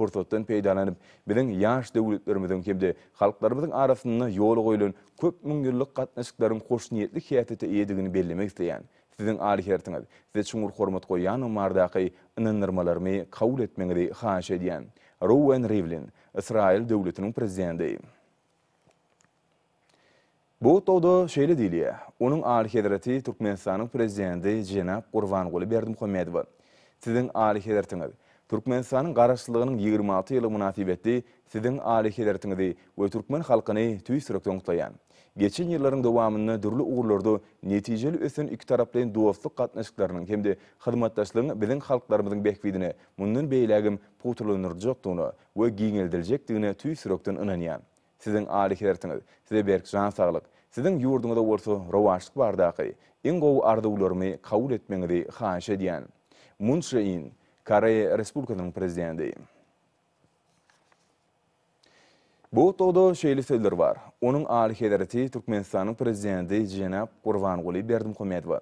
Pursatdan peýdalanyp, biziň ýaş döwletlerimiziň hem-de halklarymyzyň arasynda ýola goýlan köp müň ýyllyk gatnaşyklaryň hoşniýetli häsiýete eýedigini bellemek isleýän. Siziň alyhersiňiz, size çuňňur hormat goýýandygymy bardaky ynandyrmalarymy kabul etmegiňizi haýyş edýän. Rouwen Rivlin, Ysraýyl Döwletiniň Prezidenti. Bu gutlagda şeýle diýilýär, Onuň Alyhezreti Türkmenistanyň Prezidenti jenap Gurbanguly Berdimuhamedowa, Siziň Alyhezretiňiz, Türkmenistanyň Garaşsyzlygynyň ýigrimi alty ýyllygy mynasybetli Siziň Alyhezretiňizi we türkmen halkyny tüýs ýürekden gutlaýan. Geçen ýyllaryň dowamynda dürli ugurlarda netijeli ösen ikitaraplaýyn dostluk gatnaşyklarynyň hem-de hyzmatdaşlygyň biziň halklarymyzyň bähbidine mundan beýlägem pugtalandyryljakdygyna we giňeldiljekdigine tüýs ýürekden ynanýan. Siziň aly hertiňiz, size berk jan saglyk, siziň ýurduňyza bolsa rowaçlyk bardaky iň gowy arzuwlarymy kabul etmegiňizi haýyş edýän. Mun Çže In, Koreýa Respublikasynyň Prezidenti. Botdogda şeýle sözler bar, Onuň Aly Hezreti Türkmenistanyň Prezidenti jenap Gurbanguly Berdimuhamedowa.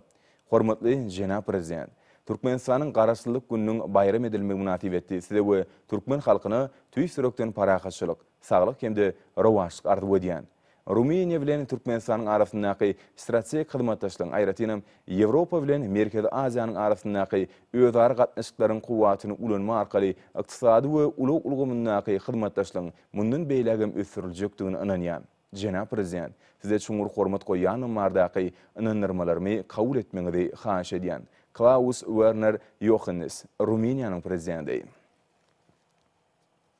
Hormatly jenap Prezident! Türkmenistanyň Garaşsyzlyk gününiň baýram edilmegi mynasybetli Size we türkmen halkyna tüýs ýürekden parahatçylyk, Saglyk hem-de rowaçlyk arzuw edýän. Rumyniýa bilen Türkmenistanyň arasyndaky strategik hyzmatdaşlygyň, aýratynam, Ýewropa bilen Merkezi Aziýanyň arasyndaky özara gatnaşyklaryň kuwwatyny ulanma arkaly ykdysady we ulag ulgamyndaky hyzmatdaşlygyň mundan beýlägem ösdüriljekdigine ynanýan. Jenap Prezident, Size çuňňur hormat goýýanlygym bardaky ynandyrmalarymy kabul etmegiňizi haýyş edýän. Klaus Werner Ýohannes, Rumyniýanyň Prezidenti.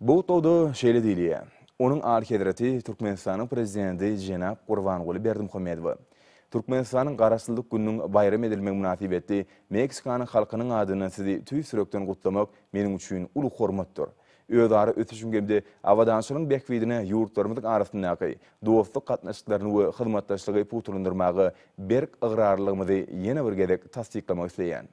Bu gutlagda şeýle diýilýär, Onuň Alyhezreti Türkmenistanyň Prezidenti jenap Gurbanguly Berdimuhamedowa Türkmenistanyň Garaşsyzlyk gününiň baýram edilmegi mynasybetli Meksikanyň halkynyň adyndan sizi tüýs ýürekden gutlamak meniň üçin uly hormatdyr. Özara ösüşiň hem-de abadançylygyň bähbidine ýurtlarymyzyň arasyndaky dostluk gatnaşyklaryny we hyzmatdaşlygy pugtalandyrmaga berk ygrarlylygymyzy ýene bir gezek tassyklamak isleýän.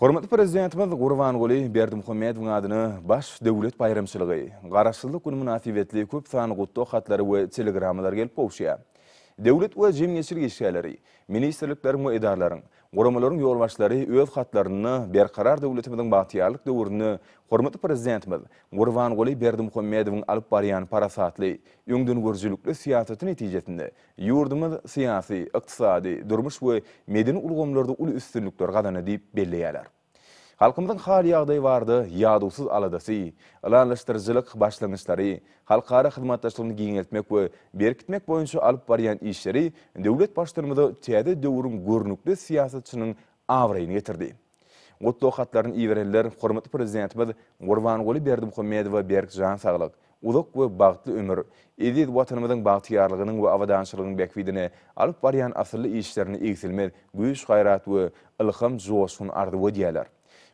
Hormatly Prezidentimiz Gurbanguly Berdimuhamedowyň adyna baş döwlet baýramçylygy, Garaşsyzlyk güni mynasybetli köp sanly gutlag hatlary we telegrammalary gelip gowuşýar. Döwlet we jemgyýetçilik işgärleri, ministrlikleriň we edaralaryň, guramalaryň ýolbaşçylary öz hatlarynda Berkarar döwletimiziň bagtyýarlyk döwründe hormatly Prezidentimiz Gurbanguly Berdimuhamedowyň alyp barýan parasatly, öňdengörüjilikli syýasaty netijesinde Ýurdumyz syýasy, ykdysady, durmuş we medeni ulgamlarda uly üstünlikler gazandy diýip belleýärler. Halkymyzyň hal-ýagdaýy barada ýadawsyz aladasy, ylalaşdyryjylyk başlangyçlary, halkara hyzmatdaşlygyny giňeltmek we berkitmek boýunça alyp barýan işleri döwlet Baştutanymyza täze döwrüň görnükli syýasatçynyň abraýyny getirdi. Gutlag hatlaryny iberenler hormatly Prezidentimiz Gurbanguly Berdimuhamedowa berk jan saglyk, uzak we bagtly ömür, eziz Watanymyzyň bagtyýarlygynyň we abadançylygyň bähbidine alyp barýan asylly işlerine egsilmez güýç-gaýrat we ylham, joşgun arzuw edýärler.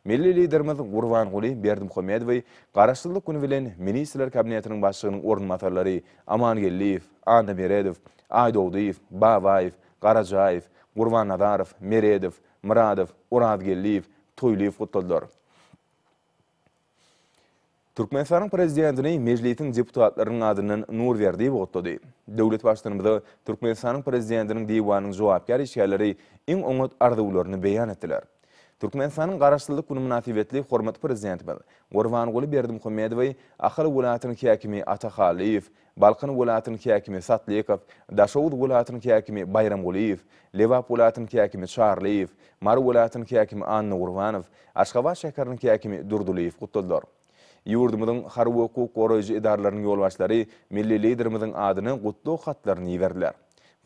Milli Liderimiz Gurbanguly Berdimuhamedowy Garaşsyzlyk güni bilen Ministrler Kabinetiniň Başlygynyň orunbasarlary Amangeldiýew, Annameredow, Aýdogdyýew, Babaýew, Garajaýew, Gurbannazarow, Meredow, Myradow, Orazgeldiýew, Toýlyýew gutladylar. Türkmenistanyň Prezidentini Mejlisiň deputatlarynyň adyndan Nurberdiýew gutlady. Döwlet Baştutanymyza Türkmenistanyň Prezidentiniň Diwanynyň jogapkär işgärleri iň oňat arzuwlaryny beýan etdiler. Türkmenistanyň Garaşsyzlyk güni mynasybetli hormatly Prezidentimiz Gurbanguly Berdimuhamedowy Ahal welaýatynyň häkimi Ata Hallyýew Balkan welaýatynyň häkimi Satlykow, Daşoguz welaýatynyň häkimi Baýramgulyýew, Lebap welaýatynyň häkimi Çarlyýew, Mary welaýatynyň häkimi Annagurbanow, Aşgabat şäheriniň häkimi Durdylyýew gutladylar. Ýurdumyzyň harby-hukuk goraýjy edaralarynyň ýolbaşçylary milli Liderimiziň adyna gutlag hatlaryny iberdiler.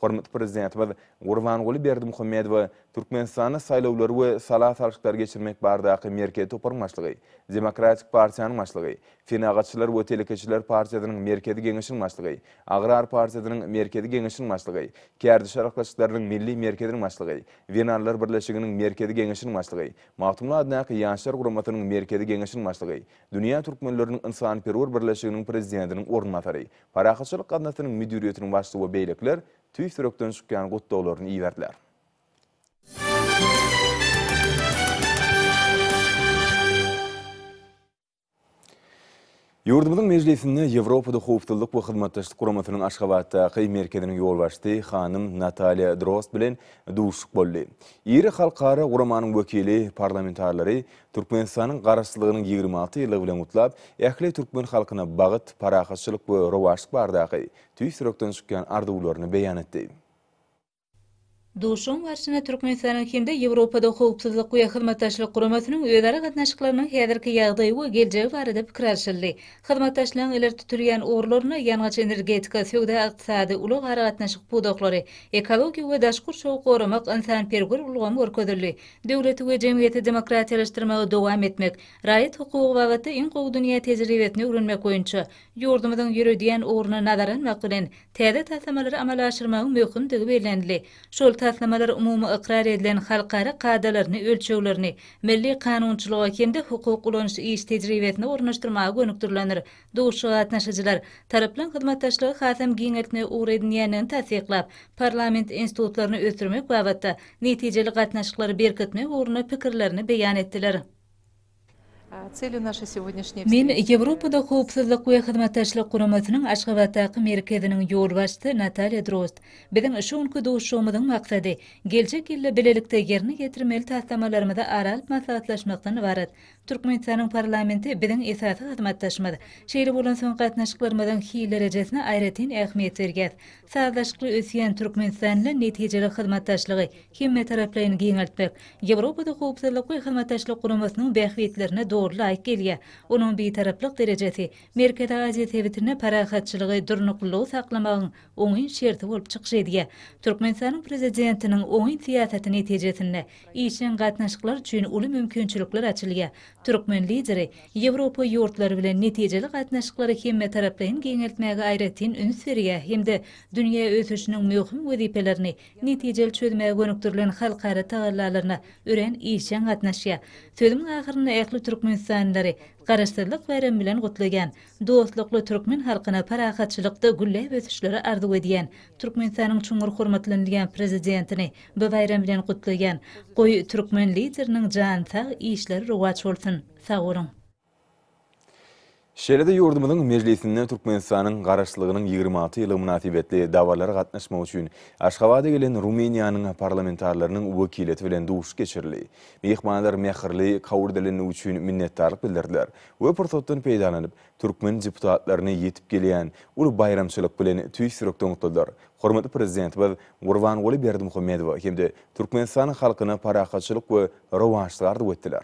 Hormatly Prezidentimiz Gurbanguly Berdimuhamedowa Türkmenistanda saýlawlary we sala salşyklary geçirmek bardaky Merkezi toparyň başlygy, Demokratik partiýanyň başlygy, Senagatçylar we telekeçiler partiýasynyň Merkezi geňeşiniň başlygy, Agrar partiýasynyň Merkezi geňeşiniň başlygy, Kärdeş arkalaşyklarynyň Milli merkeziniň başlygy, Zenanlar birleşiginiň Merkezi geňeşiniň başlygy, Magtymguly adyndaky Ýaşlar guramasynyň Merkezi geňeşiniň başlygy, Dünýä türkmenleriniň ynsanperwer birleşiginiň prezidentiniň orunbasary, Parahatçylyk gaznasynyň müdiriýetiniň başlygy we beýlekiler tüýs ýürekden çykýan gutlaglaryny iberdiler. Ýurdumyzyň Mejlisinde Ýewropada Howpsuzlyk we Hyzmatdaşlyk Guramasynyň Aşgabatdaky merkeziniň ýolbaşçysy hanym Nataliýa Drozd bilen duşuşyk boldy. Iri halkara guramanyň wekili parlamentarilary Türkmenistanyň Garaşsyzlygynyň ýigrimi alty ýyllygy bilen gutlap, ähli türkmen halkyna bagyt, parahatçylyk we rowaçlyk baradaky tüýs ýürekden çykýan arzuwlaryny beýan etdi. Duşuşygyň barşynda Türkmenistanyň hem-de Ýewropada Howpsuzlyk we Hyzmatdaşlyk Guramasynyň özara gatnaşyklarynyň häzirki ýagdaýy we geljegi barada pikir alşyldy. Hyzmatdaşlygyň ileri tutulýan ugurlarynda ýangyç-energetika, söwda-ykdysady, ulag-aragatnaşyk pudaklary, ekologiýa we daş gurşawy goramak, ynsanperwer ulgam görkezildi. Döwleti we jemgyýeti demokratiýalaşdyrmagy dowam etmek, raýat hukugy babatda iň gowy dünýä tejribesini öwrenmek boýunça ýurdumyzyň ýöredýän ugruny nazara almak bilen, täze taslamalary amala aşyrmagyň möhümdigi bellenildi. Şol taslamalar umumy ykrar edilen halkara kadalaryny, ölçeglerini milli kanunçylyga hem-de hukuk ulanyş iş tejribesine ornaşdyrmaga gönükdirilendir. Duşuşyga gatnaşyjylar, taraplaryň hyzmatdaşlygy hasam giňeltmegi ugur edinýändigini tassyklap, parlament institutlaryny ösdürmek babatda netijeli gatnaşyklary berkitmek ugrunda pikirlerini beýan etdiler. Men Ýewropada Howpsuzlyk we Hyzmatdaşlyk Guramasynyň Aşgabatdaky Merkeziniň ýolbaşçysy Nataliýa Drost, Biziň şu günki duşuşygymyzyň maksady, geljek ýylda bilelikde ýerine ýetirmeli taslamalarymyzy ara alyp maslahatlaşmakdan ybarat. Türkmenistanyň parlamenti biziň esasy hyzmatdaşymyz. Şeýle bolansoň, gatnaşyklarymyzyň hil derejesine aýratyn ähmiýet berýäs. Sazlaşykly ösýän Türkmenistan bilen netijeli hyzmatdaşlygy hemmetaraplaýyn giňeltmek Ýewropada Howpsuzlyk we Hyzmatdaşlyk Guramasynyň bähbitlerine doly laýyk gelýär. Onuň bitaraplyk derejesi Merkezi Aziýa sebitinde parahatçylygy, durnuklylygy saklamagyň oňyn şerti bolup çykyş edýär. Türkmenistanyň prezidentiniň oňyn syýasaty netijesinde, Işjeň gatnaşyklar üçin uly mümkinçilikler açylýar. Türkmen Lideri Ýewropa ýurtlary bilen netijeli gatnaşyklary hemmetaraplaýyn giňeltmäge aýratyn üns berýär hem-de dünýä ösüşiniň möhüm wezipelerini netijeli çözmäge gönükdirilen halkara tagallalaryna örän işjeň gatnaşýar. Sözümiň ahyrynda ähli türkmenistanlylary Garaşsyzlyk baýramy bilen gutlaýan, dostlukly türkmen halkyna parahatçylykda gülläp ösüşleri arzuw edýän Türkmenistanyň çuňňur hormatlanylýan Prezidentini, Bu baýram bilen gutlaýan. Goý Türkmen lideriniň jany sag işleri rowaç bolsun. Sag boluň. Şeýle-de ýurdumyzyň Mejlisinde Türkmenistanyň Garaşsyzlygynyň ýigrimi alty ýyllygy mynasybetli dabaralara gatnaşmak üçin Aşgabada gelen Rumyniýanyň parlamentarlarynyň wekiliýeti bilen duşuşyk geçirildi. Myhmanlar mähirli kabul edilenligi üçin minnetdarlyk bildirdiler we pursatdan peýdalanyp, türkmen deputatlaryna ýetip gelýän uly baýramçylyk bilen tüýs ýürekden gutladylar. Hormatly Prezidentimiz Gurbanguly Berdimuhamedowa hem-de Türkmenistan halkyna parahatçylyk we rowaçlyk arzuw etdiler.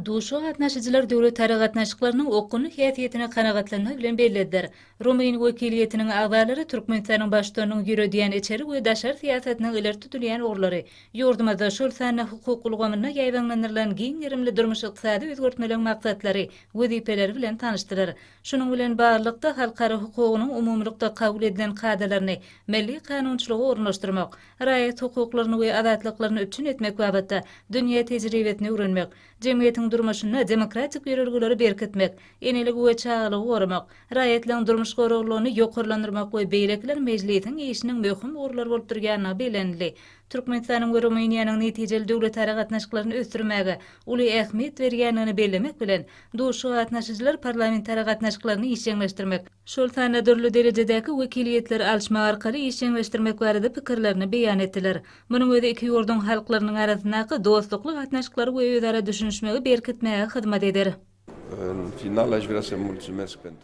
Duşuşyga gatnaşyjylar döwletara gatnaşyklarynyň okgunly häsiýetini kanagatlanma bilen bellediler. Rumyn wekiliýetiniň agzalary Türkmenistanyň Baştutanynyň ýöredýän içeri we daşary syýasatynyň ileri tutulýan ugurlary, Ýurdumyzda, şol sanda hukuk ulgamynda ýaýbaňlandyrylan giň gerimli durmuş-ykdysady özgertmeleň maksatlary, wezipeleri bilen tanyşdylar. Şunuň bilen baglylykda, halkara hukugynyň umumylykda kabul edilen kadalaryny milli kanunçylyga ornaşdyrmak, raýat hukuklaryny we azatlyklaryny üpjün etmek babatda dünýä tejribesini öwrenmek, jemgyýetiň durmuşynda demokratik ýörelgeleri berkitmek, eneligi we çagalygy goramak, raýatlaryň durmuş goraglylygyny ýokarlandyrmak we beýlekiler Mejlisiň işiniň möhüm ugurlary bolup durýandygy bellenildi. Türkmenistanyň we Rumyniýanyň netijeli döwletara gatnaşyklaryny ösdürmäge uly ähmiýet berýändigini bellemek bilen, duşuşyga gatnaşyjylar parlamentara gatnaşyklaryny işjeňleşdirmek, şol sanda dürli derejedäki wekiliýetleri alyşmak arkaly işjeňleşdirmek barada pikirlerini beýan etdiler. Munuň özi iki ýurduň halklarynyň arasyndaky dostlukly gatnaşyklary we özara düşünişmegi berkitmäge hyzmat eder.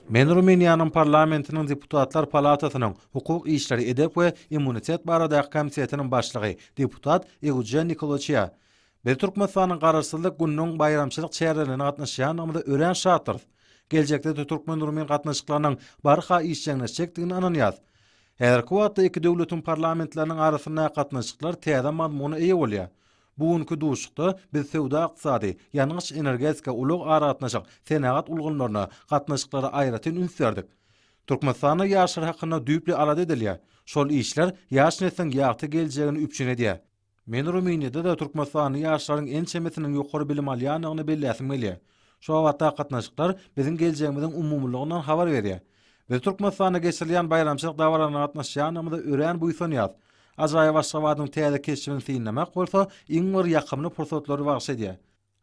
Men Rumyniýanyň parlamentiniň Deputatlar palatasynyň Hukuk işleri, edep we immunitet baradaky komitetiniň başlygy, deputat Eugen Nikoloçýa. Biz Türkmenistanyň Garaşsyzlyk gününiň baýramçylyk çärelerine gatnaşýandygymyza örän şatdyrys. Geljekde-de türkmen-rumyn gatnaşyklarynyň barha işjeňleşjekdigine ynanýarys. Häzirki wagtda iki döwletiň parlamentleriniň arasyndaky gatnaşyklar täze mazmuna eýe bolýar. Bu günki duşuşykda biz söwda-ykdysady, ýangyç-energetika, ulag-aragatnaşyk, senagat ulgamlaryna gatnaşyklara aýratyn üns berdik. Türkmenistanda ýaşlar hakynda düýpli alada edilýär. Şol işler ýaş nesliň ýagty geljegini üpjün edýär. Men Rumyniýada-da türkmenistanly ýaşlaryň ençemesiniň ýokary bilim alýandygyny belläsim gelýär. Şu babatdaky gatnaşyklar biziň geljegimiziň umumylygyndan habar berýär. Biz Türkmenistanda geçirilýän baýramçylyk dabaralaryna gatnaşýanymyza örän buýsanýarys. Ajaýyp Aşgabadyň täze keşbini synlamak bolsa iň bir ýakymly pursatlary bagyş edýär.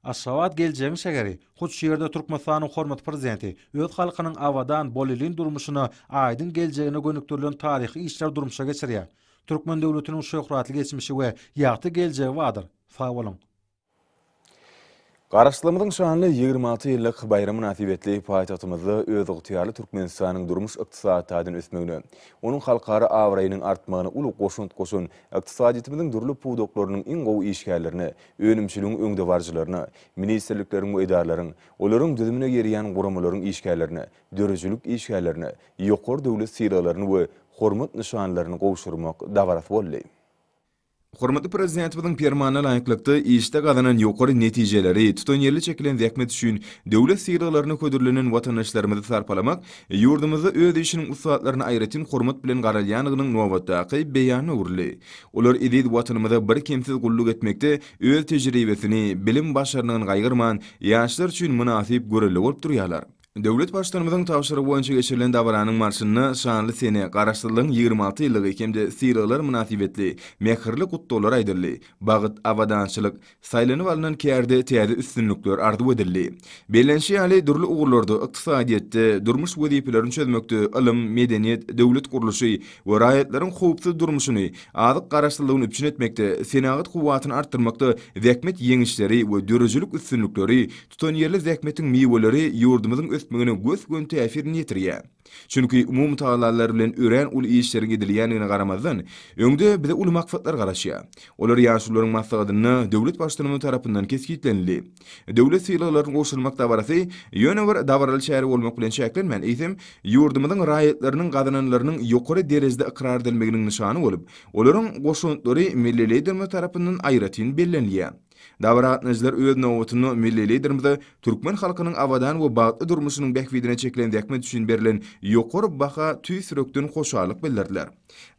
Aşgabat geljegiň şäheri. Hut şu ýerde Türkmenistanyň hormatly Prezidenti öz halkynyň abadan, bolelin durmuşyna, aýdyň geljegine gönükdirilen taryhy işleri durmuşa geçirýär. Türkmen döwletiniň şöhratly geçmişi we ýagty geljegi bardyr. Sag boluň! Garaşsyzlygymyzyň şanly ýigrimi alty ýyllyk baýramy mynasybetli paýtagtymyzda özygtyýarly Türkmenistanyň durmuş-ykdysady taýdan ösmegine, onuň halkara abraýynyň artmagyna uly goşant goşan ykdysadyýetimiziň dürli pudaklarynyň iň gowy işgärlerine, önümçiligiň öňdebaryjylaryna, ministrlikleriň we edaralaryň, olaryň düzümine girýän guramalaryň işgärlerine, döredijilik işgärlerine ýokary döwlet sylaglaryny we Hormat nyşanlaryny gowşurmak dabarasy boldy. Hormatly Prezidentimiziň Permanyna laýyklykda, işde gazanan ýokary netijeleri, tutanýerli çekilen zähmet üçin döwlet sylaglaryna hödürlenen watandaşlarymyzy sarpalamak ýurdumyzda öz işiniň ussatlaryna aýratyn hormat bilen garalýandygynyň nobatdaky beýanyna öwrüldi. Olar eziz Watanymyza birkemsiz gulluk etmekde öz tejribesini, bilim-başarnygyny gaýgyrman, ýaşlar üçin mynasyp görelde bolup durýarlar. Döwlet Baştutanymyzyň tabşyrygy boýunça geçirilen dabaranyň barşynda şanly sene, Garaşsyzlygyň ýigrimi alty ýyllygy hem-de sylaglar mynasybetli mähirli gutlaglar aýdyldy, bagyt, abadançylyk, saýlanyp alnan kärde täze üstünlikler arzuw edildi. Bellenişi ýaly, dürli ugurlarda, ykdysadyýetde, durmuş wezipelerini çözmekde, ylym, medeniýet, döwlet gurluşy we raýatlaryň howpsuz durmuşyny, azyk garaşsyzlygyny üpjün etmekde, senagat kuwwatyny artdyrmakda zähmet ýeňişleri we döredijilik üstünlikleri Tutanýerli zähmetiň miweleri ýurdumyzyň ösmegine gös-göni täsirini ýetirýär. Çünki umumy tagallalar bilen örän uly işleriň edilýändigine garamazdan, öňde bize uly maksatlar garaşýar. Olar ýaşulularyň maslahatynda döwlet Baştutanymyz tarapyndan kesgitlenildi. Döwlet sylaglaryny gowşurmak dabarasy ýöne bir dabaraly çäre bolmak bilen çäklenmän, eýsem, ýurdumyzyň raýatlarynyň gazananlarynyň ýokary derejede ykrar edilmeginiň nyşany bolup, olaryň goşantlary milli Liderimiz tarapyndan aýratyn bellenilýär. Dabara gatnaýjylar öz nobatynda milli Liderimize türkmen halkynyň abadan we bagtly durmuşynyň bähbidine çekilen zähmet üçin berlen ýokary baha tüýs ýürekden hoşallyk bildirdiler.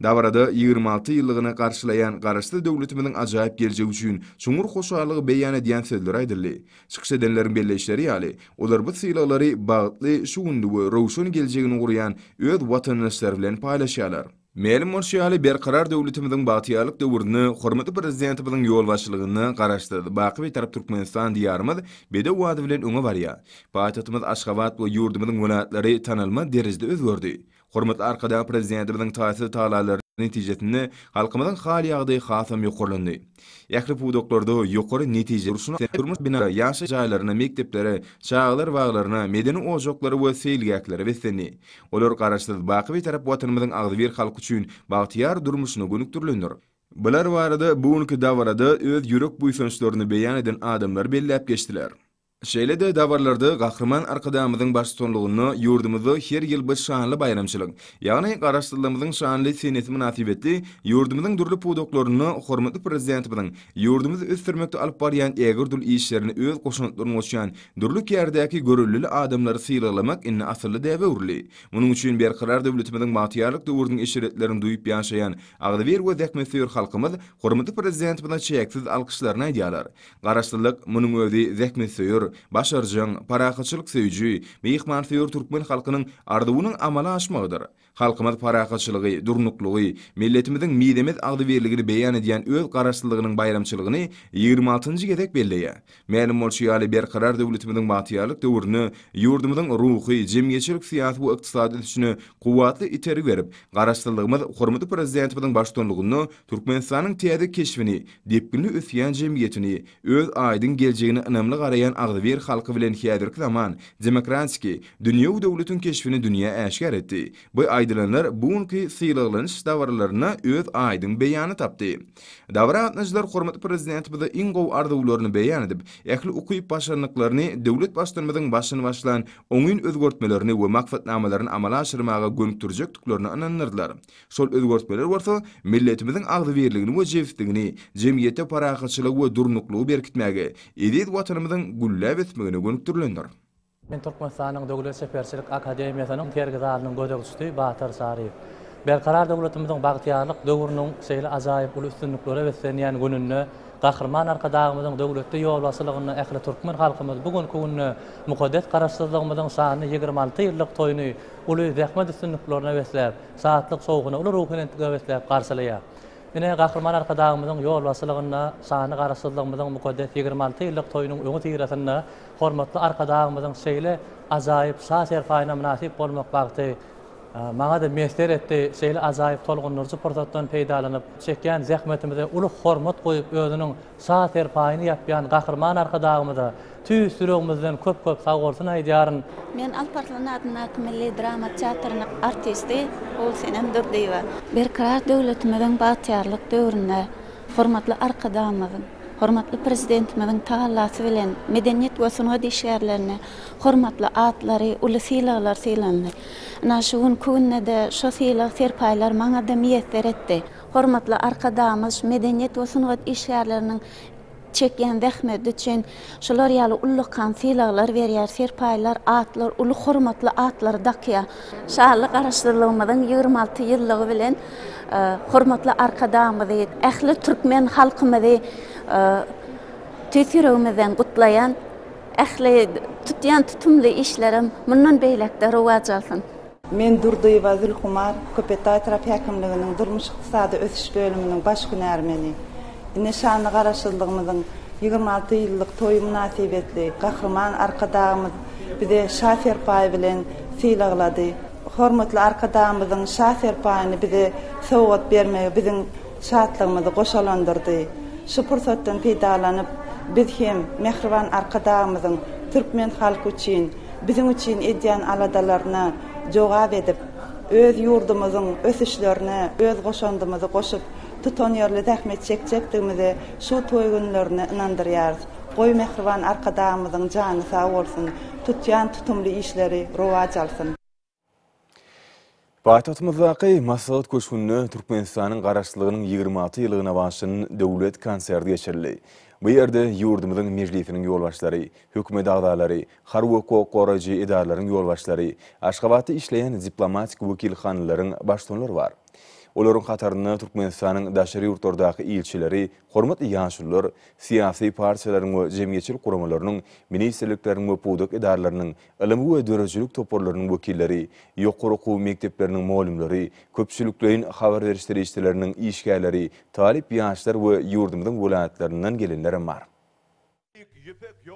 Dabarada ýigrimi alty ýyllygyny garşylaýan Garaşsyz döwletimiziň ajaýyp geljegi üçin çuňňur hoşallygy beýan edýän sözler aýdyldy. Çykyş edenleriň belleýişleri ýaly, olar bu sylaglary bagtly şu günde we röwşen geljegini gurýan öz watandaşlary bilen paýlaşýarlar. Mälim bolşy ýaly, Berkarar döwletimiziň bagtyýarlyk döwründe hormatly Prezidentimiziň ýolbaşçylygynda Garaşsyz, baky Bitarap Türkmenistan Diýarymyz bedew bady bilen öňe barýar. Paýtagtymyz Aşgabat we ýurdumyzyň welaýatlary tanalmaz derejede özgerdi. Hormatly Arkadag Prezidentimiziň taýsyz tagallalary netijesinde halkymyzyň hal-ýagdaýy hasam ýokarlandy. Ähli pudaklarda ýokary netije urşuna seredip, durmuş binalara, ýaşaýyş jaýlaryna, mekdeplere, çagalar baglaryna, medeni ojaklara we seýilgählere beslendi. Olar Garaşsyz, baky Bitarap Watanymyzyň agzybir halky üçin bagtyýar durmuşyna gönükdirilendir. Bular barada bu günki dabarada öz ýürek buýsançlaryny beýan eden adamlar belläp geçdiler. Şeýle-de dabaralarda Gahryman Arkadagymyzyň baştutanlygynda ýurdumyzda her ýyl bu şanly baýramçylyk, ýagny Garaşsyzlygymyzyň şanly senesi mynasybetli ýurdumyzyň dürli pudaklarynda hormatly Prezidentimiziň ýurdumyzy ösdürmekde alyp barýan ägirt uly işlerine öz goşantlaryny goşýan dürli kärdäki görellili adamlary sylaglamak indi asylly däbe öwrüldi. Munuň üçin Berkarar döwletimiziň bagtyýarlyk döwrüniň eşretlerini duýup ýaşaýan agzybir we zähmetsöýer halkymyz hormatly Prezidentimize çäksiz alkyşlaryny aýdýarlar. Garaşsyzlyk, munuň özi zähmetsöýer, başarjaň, parahatçylyk söýüji, myhmansöýer türkmen halkynyň arzuwynyň amala aşmagydyr. Halkymyz parahatçylygy, durnuklygy, milletimiziň mizemez agzybirligini beýan edýän öz Garaşsyzlygynyň baýramçylygyny ýigrimi altynjy gezek belleýär. Mälim bolşy ýaly, Berkarar döwletimiziň bagtyýarlyk döwründe ýurdumyzyň ruhy, jemgyýetçilik-syýasy we ykdysady ösüşine kuwwatly itergi berip, Garaşsyzlygymyz hormatly Prezidentimiziň baştutanlygynda Türkmenistanyň täze keşbini, depginli ösýän jemgyýetini, öz aýdyň geljegine ynamly garaýan agzybir halky bilen häzirki zaman demokratiki, dünýewi döwletiň keşbini dünýä äşgär etdi. Bu aýdylanlar bu günki sylaglanyş dabaralarynda öz aýdyň beýanyny tapdy. Dabara gatnaşyjylar hormatly Prezidentimize iň gowy arzuwlaryny beýan edip, ähli ukyp-başarnyklaryny döwlet Baştutanymyzyň başyny başlan oňyn özgertmelerini we maksatnamalaryny amala aşyrmaga gönükdirjekdiklerine ynandyrdylar. Şol özgertmeler bolsa milletimiziň agzybirligini we jebisligini, jemgyýetde parahatçylygy we durnuklygy berkitmäge, eziz Watanymyzyň gülläp ösmegine gönükdirilendir. Men Türkmenistanyň Döwlet çeperçilik akademiýasynyň sergi zalynyň gözegçisi Batyr Saryýew. Berkarar döwletimiziň bagtyýarlyk döwrüniň şeýle ajaýyp uly üstünliklere beslenýän gününde Gahryman Arkadagymyzyň döwletli ýolbaşçylygynda ähli türkmen halkymyz bu günki günde mukaddes Garaşsyzlygymyzyň şanly ýigrimi alty ýyllyk toýuny uly zähmet üstünliklerine besläp, Şatlyk sowugyny uly ruhubelent göbetläp garşylaýar. Ine, Gahryman Arkadagymyzyň ýolbaşçylygynda şanly Garaşsyzlygymyzyň mukaddes ýigrimi alty ýyllyk toýunyň öňüsyrasynda hormatly Arkadagymyzyň şeýle ajaýyp şa-serpaýyna mynasyp bolmak bagty maňa-da miýesser etdi. Şeýle ajaýyp tolgundyryjy pursatdan peýdalanyp, çekýän zähmetimize uly hormat goýup, özüniň Şa serpaýyny ýapýan Gahryman Arkadagymyza tüýs ýüregimizden köp-köp sagbolsun aýdýaryn. Men Alp Arslan adyndaky milli drama teatrynyň artisti Gulsenem Durdyýewa. Berkarar döwletimiziň bagtyýarlyk döwründe hormatly Arkadagymyzyň, hormatly Prezidentimiziň tagallasy bilen medeniýet we sungat işgärlerine hormatly atlary, uly sylaglar sylandy. Ynha, şu günki günde-de şo sylag-serpaýlar maňa-da miýesser etdi. Hormatly Arkadagymyz medeniýet we sungat işgärleriniň çekýän zähmeti üçin şular ýaly ullakan sylaglar berýär, serpaýlar, atlar, uly hormatly atlary dakýar. Şanly Garaşsyzlygymyzyň ýigrimi alty ýyllygy bilen hormatly Arkadagymyzy, ähli türkmen halkymyzy tüýs ýüregimizden gutlaýan, ähli tutýan tutumly işlerem mundan beýläk-de rowaç alsyn! Men Durdyýewa Zülhumar, Köpetdagy etrap häkimliginiň durmuş-ykdysady ösüş bölüminiň baş hünärmeni. Ine şanly Garaşsyzlygymyzyň ýigrimi alty ýyllyk toýy mynasybetli Gahryman Arkadagymyz bize Şa serpaýy bilen sylaglady. Hormatly Arkadagymyzyň Şa serpaýyny bize sowgat bermegi biziň şatlygymyzy goşalandyrdy. Şu pursatdan peýdalanyp, biz hem mähriban Arkadagymyzyň türkmen halky üçin, biziň üçin edýän aladalaryna jogap edip, öz ýurdumyzyň ösüşlerine öz goşandymyzy goşup, tutanýerli zähmet çekjekdigimize şu toý günlerinde ynandyrýarys. Goý, mähriban Arkadagymyzyň jany sag bolsun, tutýan tutumly işleri rowaç alsyn! Paýtagtymyzdaky Maslahat köşgünde Türkmenistanyň Garaşsyzlygynyň ýigrimi alty ýyllygyna bagyşlanan döwlet konserti geçirildi. Bu ýerde ýurdumyzyň Mejlisiniň ýolbaşçylary, hökümet agzalary, harby we hukuk goraýjy edaralaryň ýolbaşçylary, Aşgabatda işleýän diplomatik wekilhanalaryň baştutanlary bar. Olaryň hatarynda Türkmenistanyň daşary ýurtlardaky ilçileri, hormatly ýaşulular, syýasy partiýalaryň we jemgyýetçilik guramalarynyň, ministrlikleriň we pudak edaralarynyň Ylym we döredijilik toparlarynyň wekilleri, ýokary okuw mekdepleriniň mugallymlary, köpçülikleýin habar beriş serişdeleriniň işgärleri, talyp ýaşlar we ýurdumyzyň welaýatlaryndan gelenlerem bar.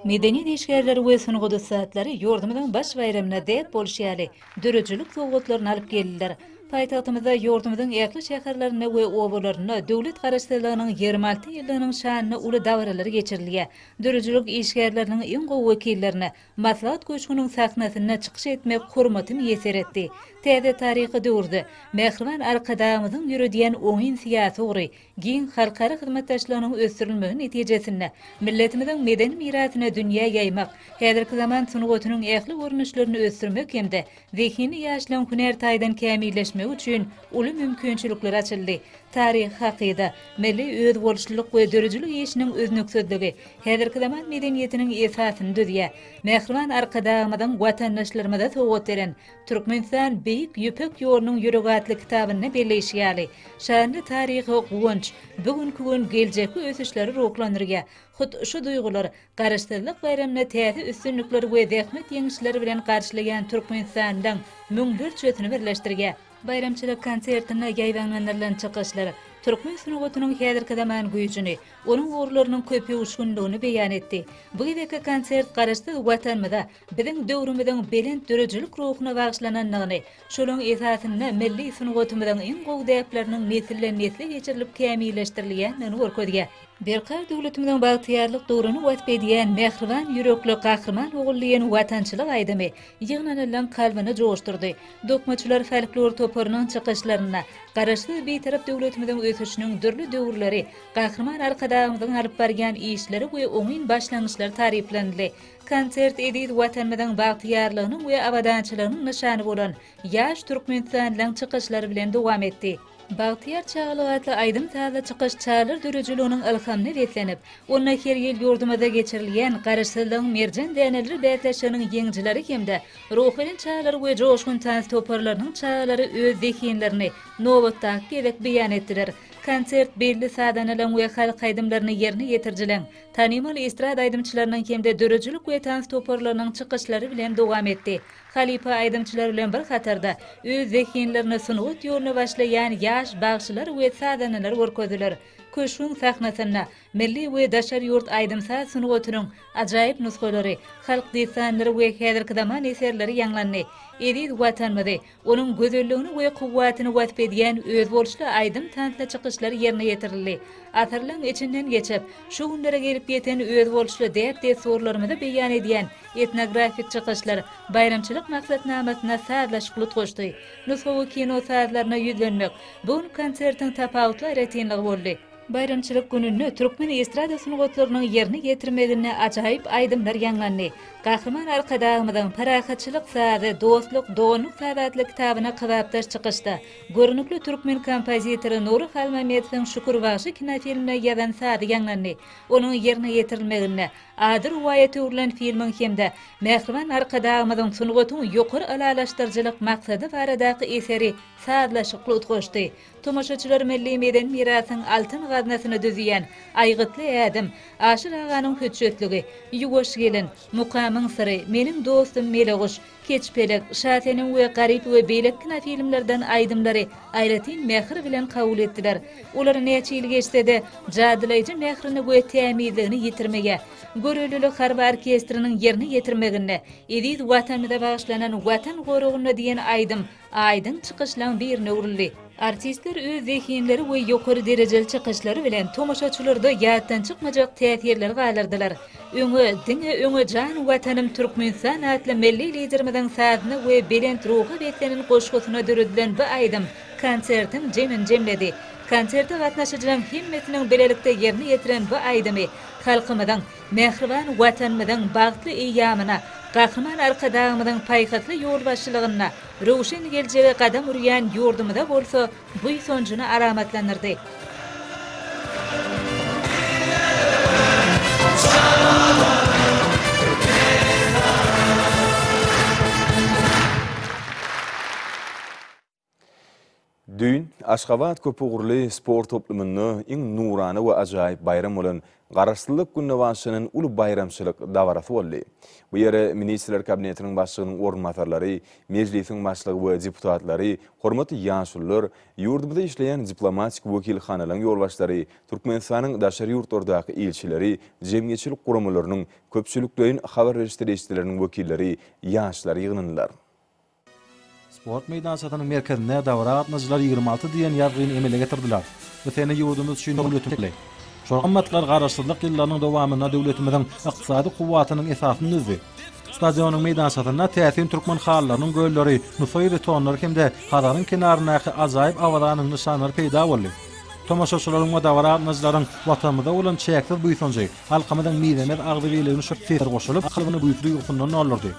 Medeniýet işgärleri we sungat ussatlary ýurdumyzyň baş baýramyna däp bolşy ýaly, döredijilik sowgatlaryny alyp geldiler. Paýtagtymyzda, ýurdumyzyň ähli şäherlerinde we obalarynda Döwlet Garaşsyzlygynyň ýigrimi alty ýyllygynyň şanyna uly dabaralar geçirilýär. Döredijilik işgärleriniň iň gowy wekillerini Maslahat köşgüniň sahnasynda çykyş etmek hormaty miýesser etdi. Täze taryhy döwürde Mähriban Arkadagymyzyň ýöredýän oňyn syýasy ugry, giň halkara hyzmatdaşlygynyň ösdürilmegi netijesinde, milletimiziň medeni mirasyny dünýä ýaýmak, häzirki zaman sungatynyň ähli görnüşlerini ösdürmek hem-de Zehini ýaşlaň hünär taýdan kämilleşmegi üçin uly mümkinçilikler açyldy. Taryhy hakyda, milli özboluşlylyk we döredijilik işiniň üznüksizligi häzirki zaman medeniýetiniň esasyny düzýär. Mähriban Arkadagymyzyň watandaşlarymyza sowgat beren Türkmenistan Beýik Ýüpek ýolunyň ýüregi atly kitabynda belleýşi ýaly, şanly taryhy Guwanç bu günki gün geljekki ösüşleri ruhlandyrýar, hut şu duýgular Garaşsyzlyk baýramyny täze üstünlikler we zähmet ýeňişleri bilen garşylaýan türkmenistanlylaryň müňlerçesini birleşdirýär. Baýramçylyk konsertinde ýaýbaňlandyrylan çykyşlar türkmen sungatynyň häzirki zaman güýjüni, onuň ugurlarynyň köpöwüşginligini beýan etdi. Bu gezekki konsert Garaşsyz Watanymyza, biziň döwrümiziň belent döredijilik ruhuna bagyşlanandygyny, şolaň esasynda milli sungatymyzyň iň gowy däpleriniň nesilden-nesle geçirilip kämilleşdirilýändigini görkezýär. Berkarar döwletimiziň bagtyýarlyk döwrüni wasp edýän Mähriban ýürekli Gahryman Ogullynyň Watançylyk aýdymy ýygnanylaryň kalbyny joşdurdy. Dokmaçylar folklor toparynyň çykyşlarynda Garaşsyz, Bitarap döwletimiziň ösüşiniň dürli döwürleri, Gahryman Arkadagymyzyň alyp barýan işleri we oňyn başlangyçlary taryplanyldy. Konsert eziz Watanymyzyň bagtyýarlygynyň we abadançylygynyň nyşany bolan ýaş türkmenistanlyň çykyşlary bilen dowam etdi. Bagtyýar çagalyk atly aýdym-sazly çykyş çagalar döredijiliginiň ylhamyna beslenip, onda her ýyl ýurdumyzda geçirilýän Garaşsyzlygyň merjen däneleri bäsleşiginiň ýeňijileri hem-de Ruhubelent çagalar we Joşgun tans toparlarynyň çagalary öz zehinlerini nobatdaky gezek beýan etdiler. Konsert belli sazanalaryň we halk aýdymlaryny ýerine ýetirijileriň, tanymal estrada aýdymçylarynyň hem-de döredijilik we tans toparlarynyň çykyşlary bilen dowam etdi. Halypa aýdymçylar bilen bir hatarda, öz zehinlerini sungat ýoluna başlaýan ýaş bagşylar we sazandalar görkezdiler. Köşgüň sahnasynda milli we daşary ýurt aýdym-saz sungatynyň ajaýyp nusgalary, halk dessanlary we häzirki zaman eserleri ýaňlandy. Eziz Watanymyzy, onuň gözelligini we kuwwatyny wasp edýän özboluşly aýdym-tansly çykyşlar ýerine ýetirildi. Asyrlaryň içinden geçip, şu günlere gelip ýeten özboluşly däp-dessurlarymyzy beýan edýän Etnografik çykyşlar baýramçylyk maksatnamasyna sazlaşykly utgaşdy. Nusgawy kino sazlaryna ýüzlenmek bu gün konsertiň tapawutly aýratynlygy boldy. Baýramçylyk gününde türkmen estrada sungatlarynyň ýerine ýetirmeginde ajaýyp aýdymlar ýaňlandy. Gahryman Arkadagymyzyň Parahatçylyk sazy, dostluk, doganlyk sazy atly kitabyna kybapdaş çykyşda görnükli türkmen kompozitory Nury Halmämmedowyň Şükür bagşy kinofilmine ýazan sazy ýaňlandy. Onuň ýerine ýetirilmeginde Ady rowaýata öwrülen filmiň hem-de Mähriban Arkadagymyzyň sungatyň ýokary ylalaşdyryjylyk maksady baradaky eseri sazlaşykly utgaşdy. Tomaşaçylar milli medeni mirasyň altyn gaznasyny düzýän Aýgytly ädim, Aşyr aganyň hötjetligi, Ýuwaş gelin, Mukamyň syry, Meniň dostum Meleguş, Keç pelek, Şa senem we Garyp we beýleki kinofilmlerden aýdymlary aýratyn mähir bilen kabul etdiler. Olar näçe ýyl geçse-de, jadylaýjy mährini we tämizligini ýitirmeýär. Görelilik harby orkestriniň ýerine ýetirmeginde Eziz Watanymyza bagyşlanan Watan goragynda diýen aýdym Aýdyň çykyşlaň birine öwrüldi. Artistler öz zehinleri we ýokary derejeli çykyşlary bilen tomaşaçylarda ýatdan çykmajak täsirleri galdyrdylar. Öňe, diňe öňe Jan Watanym Türkmenistan atly Milli Liderimiziň sazyna we belent ruha beslenen goşgusyna döredilen bu aýdym konsertiň jemini jemledi. Konserte gatnaşyjylaň hemmesiniň bilelikde ýerine ýetiren bu aýdymy halkymyzyň Mähriban Watanymyzyň bagtly eýýamyna Gahryman Arkadagymyzyň paýhasly ýolbaşçylygynda röwşen geljege gadam urýan ýurdumyza bolsa buýsanjyny alamatlandyrdy. Düýn Aşgabat köpugurly sport toplumynda iň nurana we ajaýyp baýram bolan Garaşsyzlyk gününe bagyşlanan uly baýramçylyk dabarasy boldy. Bu ýere Ministrler Kabinetiniň Başlygynyň orunbasarlary, Mejlisiň Başlygy we deputatlary, hormatly ýaşulular, ýurdumyzda işleýän diplomatik wekilhanalaryň ýolbaşçylary, Türkmenistanyň daşary ýurtlardaky ilçileri, jemgyýetçilik guramalarynyň, köpçülikleýin habar berişdirişileriniň wekilleri, ýaşlar ýygnandylar. Sport meýdançasynyň merkezinde dabara gatnaşyjylar ýigrimi alty diýen ýazgyny emele getirdiler. Bu sene ýurdumyz üçin döwletimiz, şol gymmatlar Garaşsyzlyk ýyllarynyň dowamynda döwletimiziň ykdysady kuwwatynyň esasyny düzdi. Stadionyň meýdançasynda täsin türkmen halylarynyň gölleri, nusaý betonlary hem-de Hazaryň kenaryndaky ajaýyp Awazanyň nyşanlary peýda boldy. Tomaşaçylaryň we dabara gatnaşyjylaryň Watanymyza bolan çäksiz buýsanjy, halkymyzyň mizemez agzybirligini şöhletländirdi we şol sesler goşulyp, kalbyny buýsanç duýgusyndan doldurdy.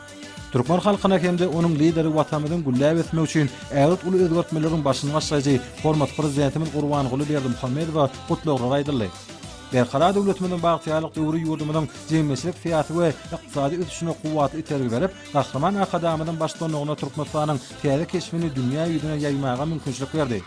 Türkmen halkyna hem-de onuň Lideri Watanymyzyň gülläp ösmegi üçin ägirt uly özgertmeleriň başyny başlaýjy hormatly Prezidentimiz Gurbanguly Berdimuhamedowa gutlaglar aýdyldy. Berkarar döwletimiziň bagtyýarlyk döwri ýurdumyzyň jemgyýetçilik-syýasy we ykdysady ösüşine kuwwatly itergi berip, Gahryman Arkadagymyzyň baştutanlygynda Türkmenistanyň täze keşbini dünýä ýüzüne ýaýmaga mümkinçilik berdi.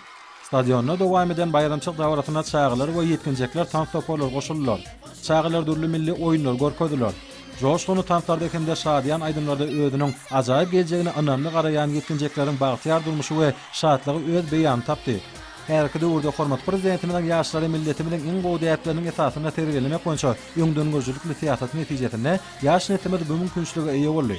Stadionda dowam eden baýramçylyk dabarasyna çagalar we ýetginjekler tans toparlary goşuldylar. Çagalar dürli milli oýunlary görkezdiler. Joşgunly tanslarda hem-de şadyýan aýdymlarda özüniň ajaýyp geljegine ynamly garaýan ýetginjekleriň bagtyýar durmuşy we şatlygy öz beýanyny tapdy. Häzirki döwürde hormatly Prezidentimiziň ýaşlary milletimiziň iň gowy däpleriniň esasynda terbiýelemek boýunça öňdengörüjilikli syýasaty netijesinde ýaş neslimiz bu mümkinçilige eýe boldy.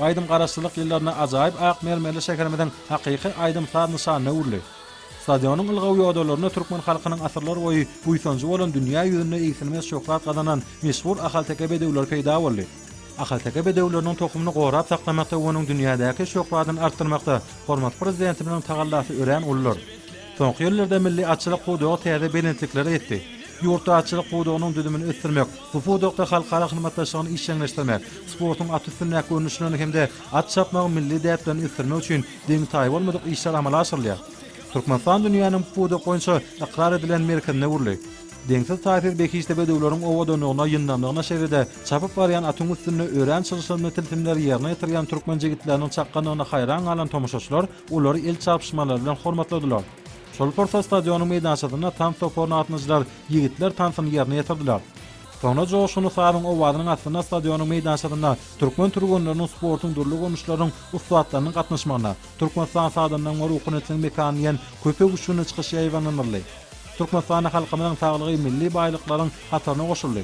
Aýdym Garaşsyzlyk ýyllarynda ajaýyp ak mermerli şäherimiziň hakyky aýdym-saz nyşanyna öwrüldi. Stadionyň ylgaw ýodalarynda türkmen halkynyň asyrlar boýy buýsanjy bolan dünýä ýüzünde egsilmez şöhrat gazanan meşhur ahalteke bedewleri peýda boldy. Ahalteke bedewleriniň tohumyny gorap saklamakda we onuň dünýädäki şöhradyny artdyrmakda hormatly Prezidentimiziň tagallasy örän uludyr. Soňky ýyllarda milli atçylyk pudagy täze belentliklere ýetdi. Ýurtda atçylyk pudagynyň düzümini ösdürmek, bu pudakda halkara hyzmatdaşlygyny işjeňleşdirmek, sportuň at üstündäki görnüşlerini hem-de at çapmagyň milli däplerini ösdürmek üçin deňi-taýy bolmadyk işler amala aşyrylýar. Türkmenistan dünýäniň bu pudak boýunça ykrar edilen merkezine öwrüldi. Deňsiz-taýsyz behişdi bedewleriň owadanlygyna, ýyndamlygyna şeýle-de çapyp barýan atyň üstünde örän çylşyrymly tilsimleri ýerine ýetirýän türkmen jigitleriniň çakganlygyna haýran galan tomaşaçylar olary el çarpyşmalary bilen hormatladylar. Şol pursat stadionyň meýdançasynda tans toparyny gatnaşyjylar ýigitler tansyny ýerine ýetirdiler. Soňra joşgunly sazyň owazynyň astynda stadionyň meýdançasynda türkmen türgenleriniň sportuň dürli görnüşleriniň ussatlarynyň gatnaşmagyna Türkmenistan sazandaň ruhun etsin mekan diýen köpek üçgünli çykyş ýaýbaňlanyldy. Türkmenistanda halkymyzyň saglygy milli baýlyklaryň hataryna goşuldy.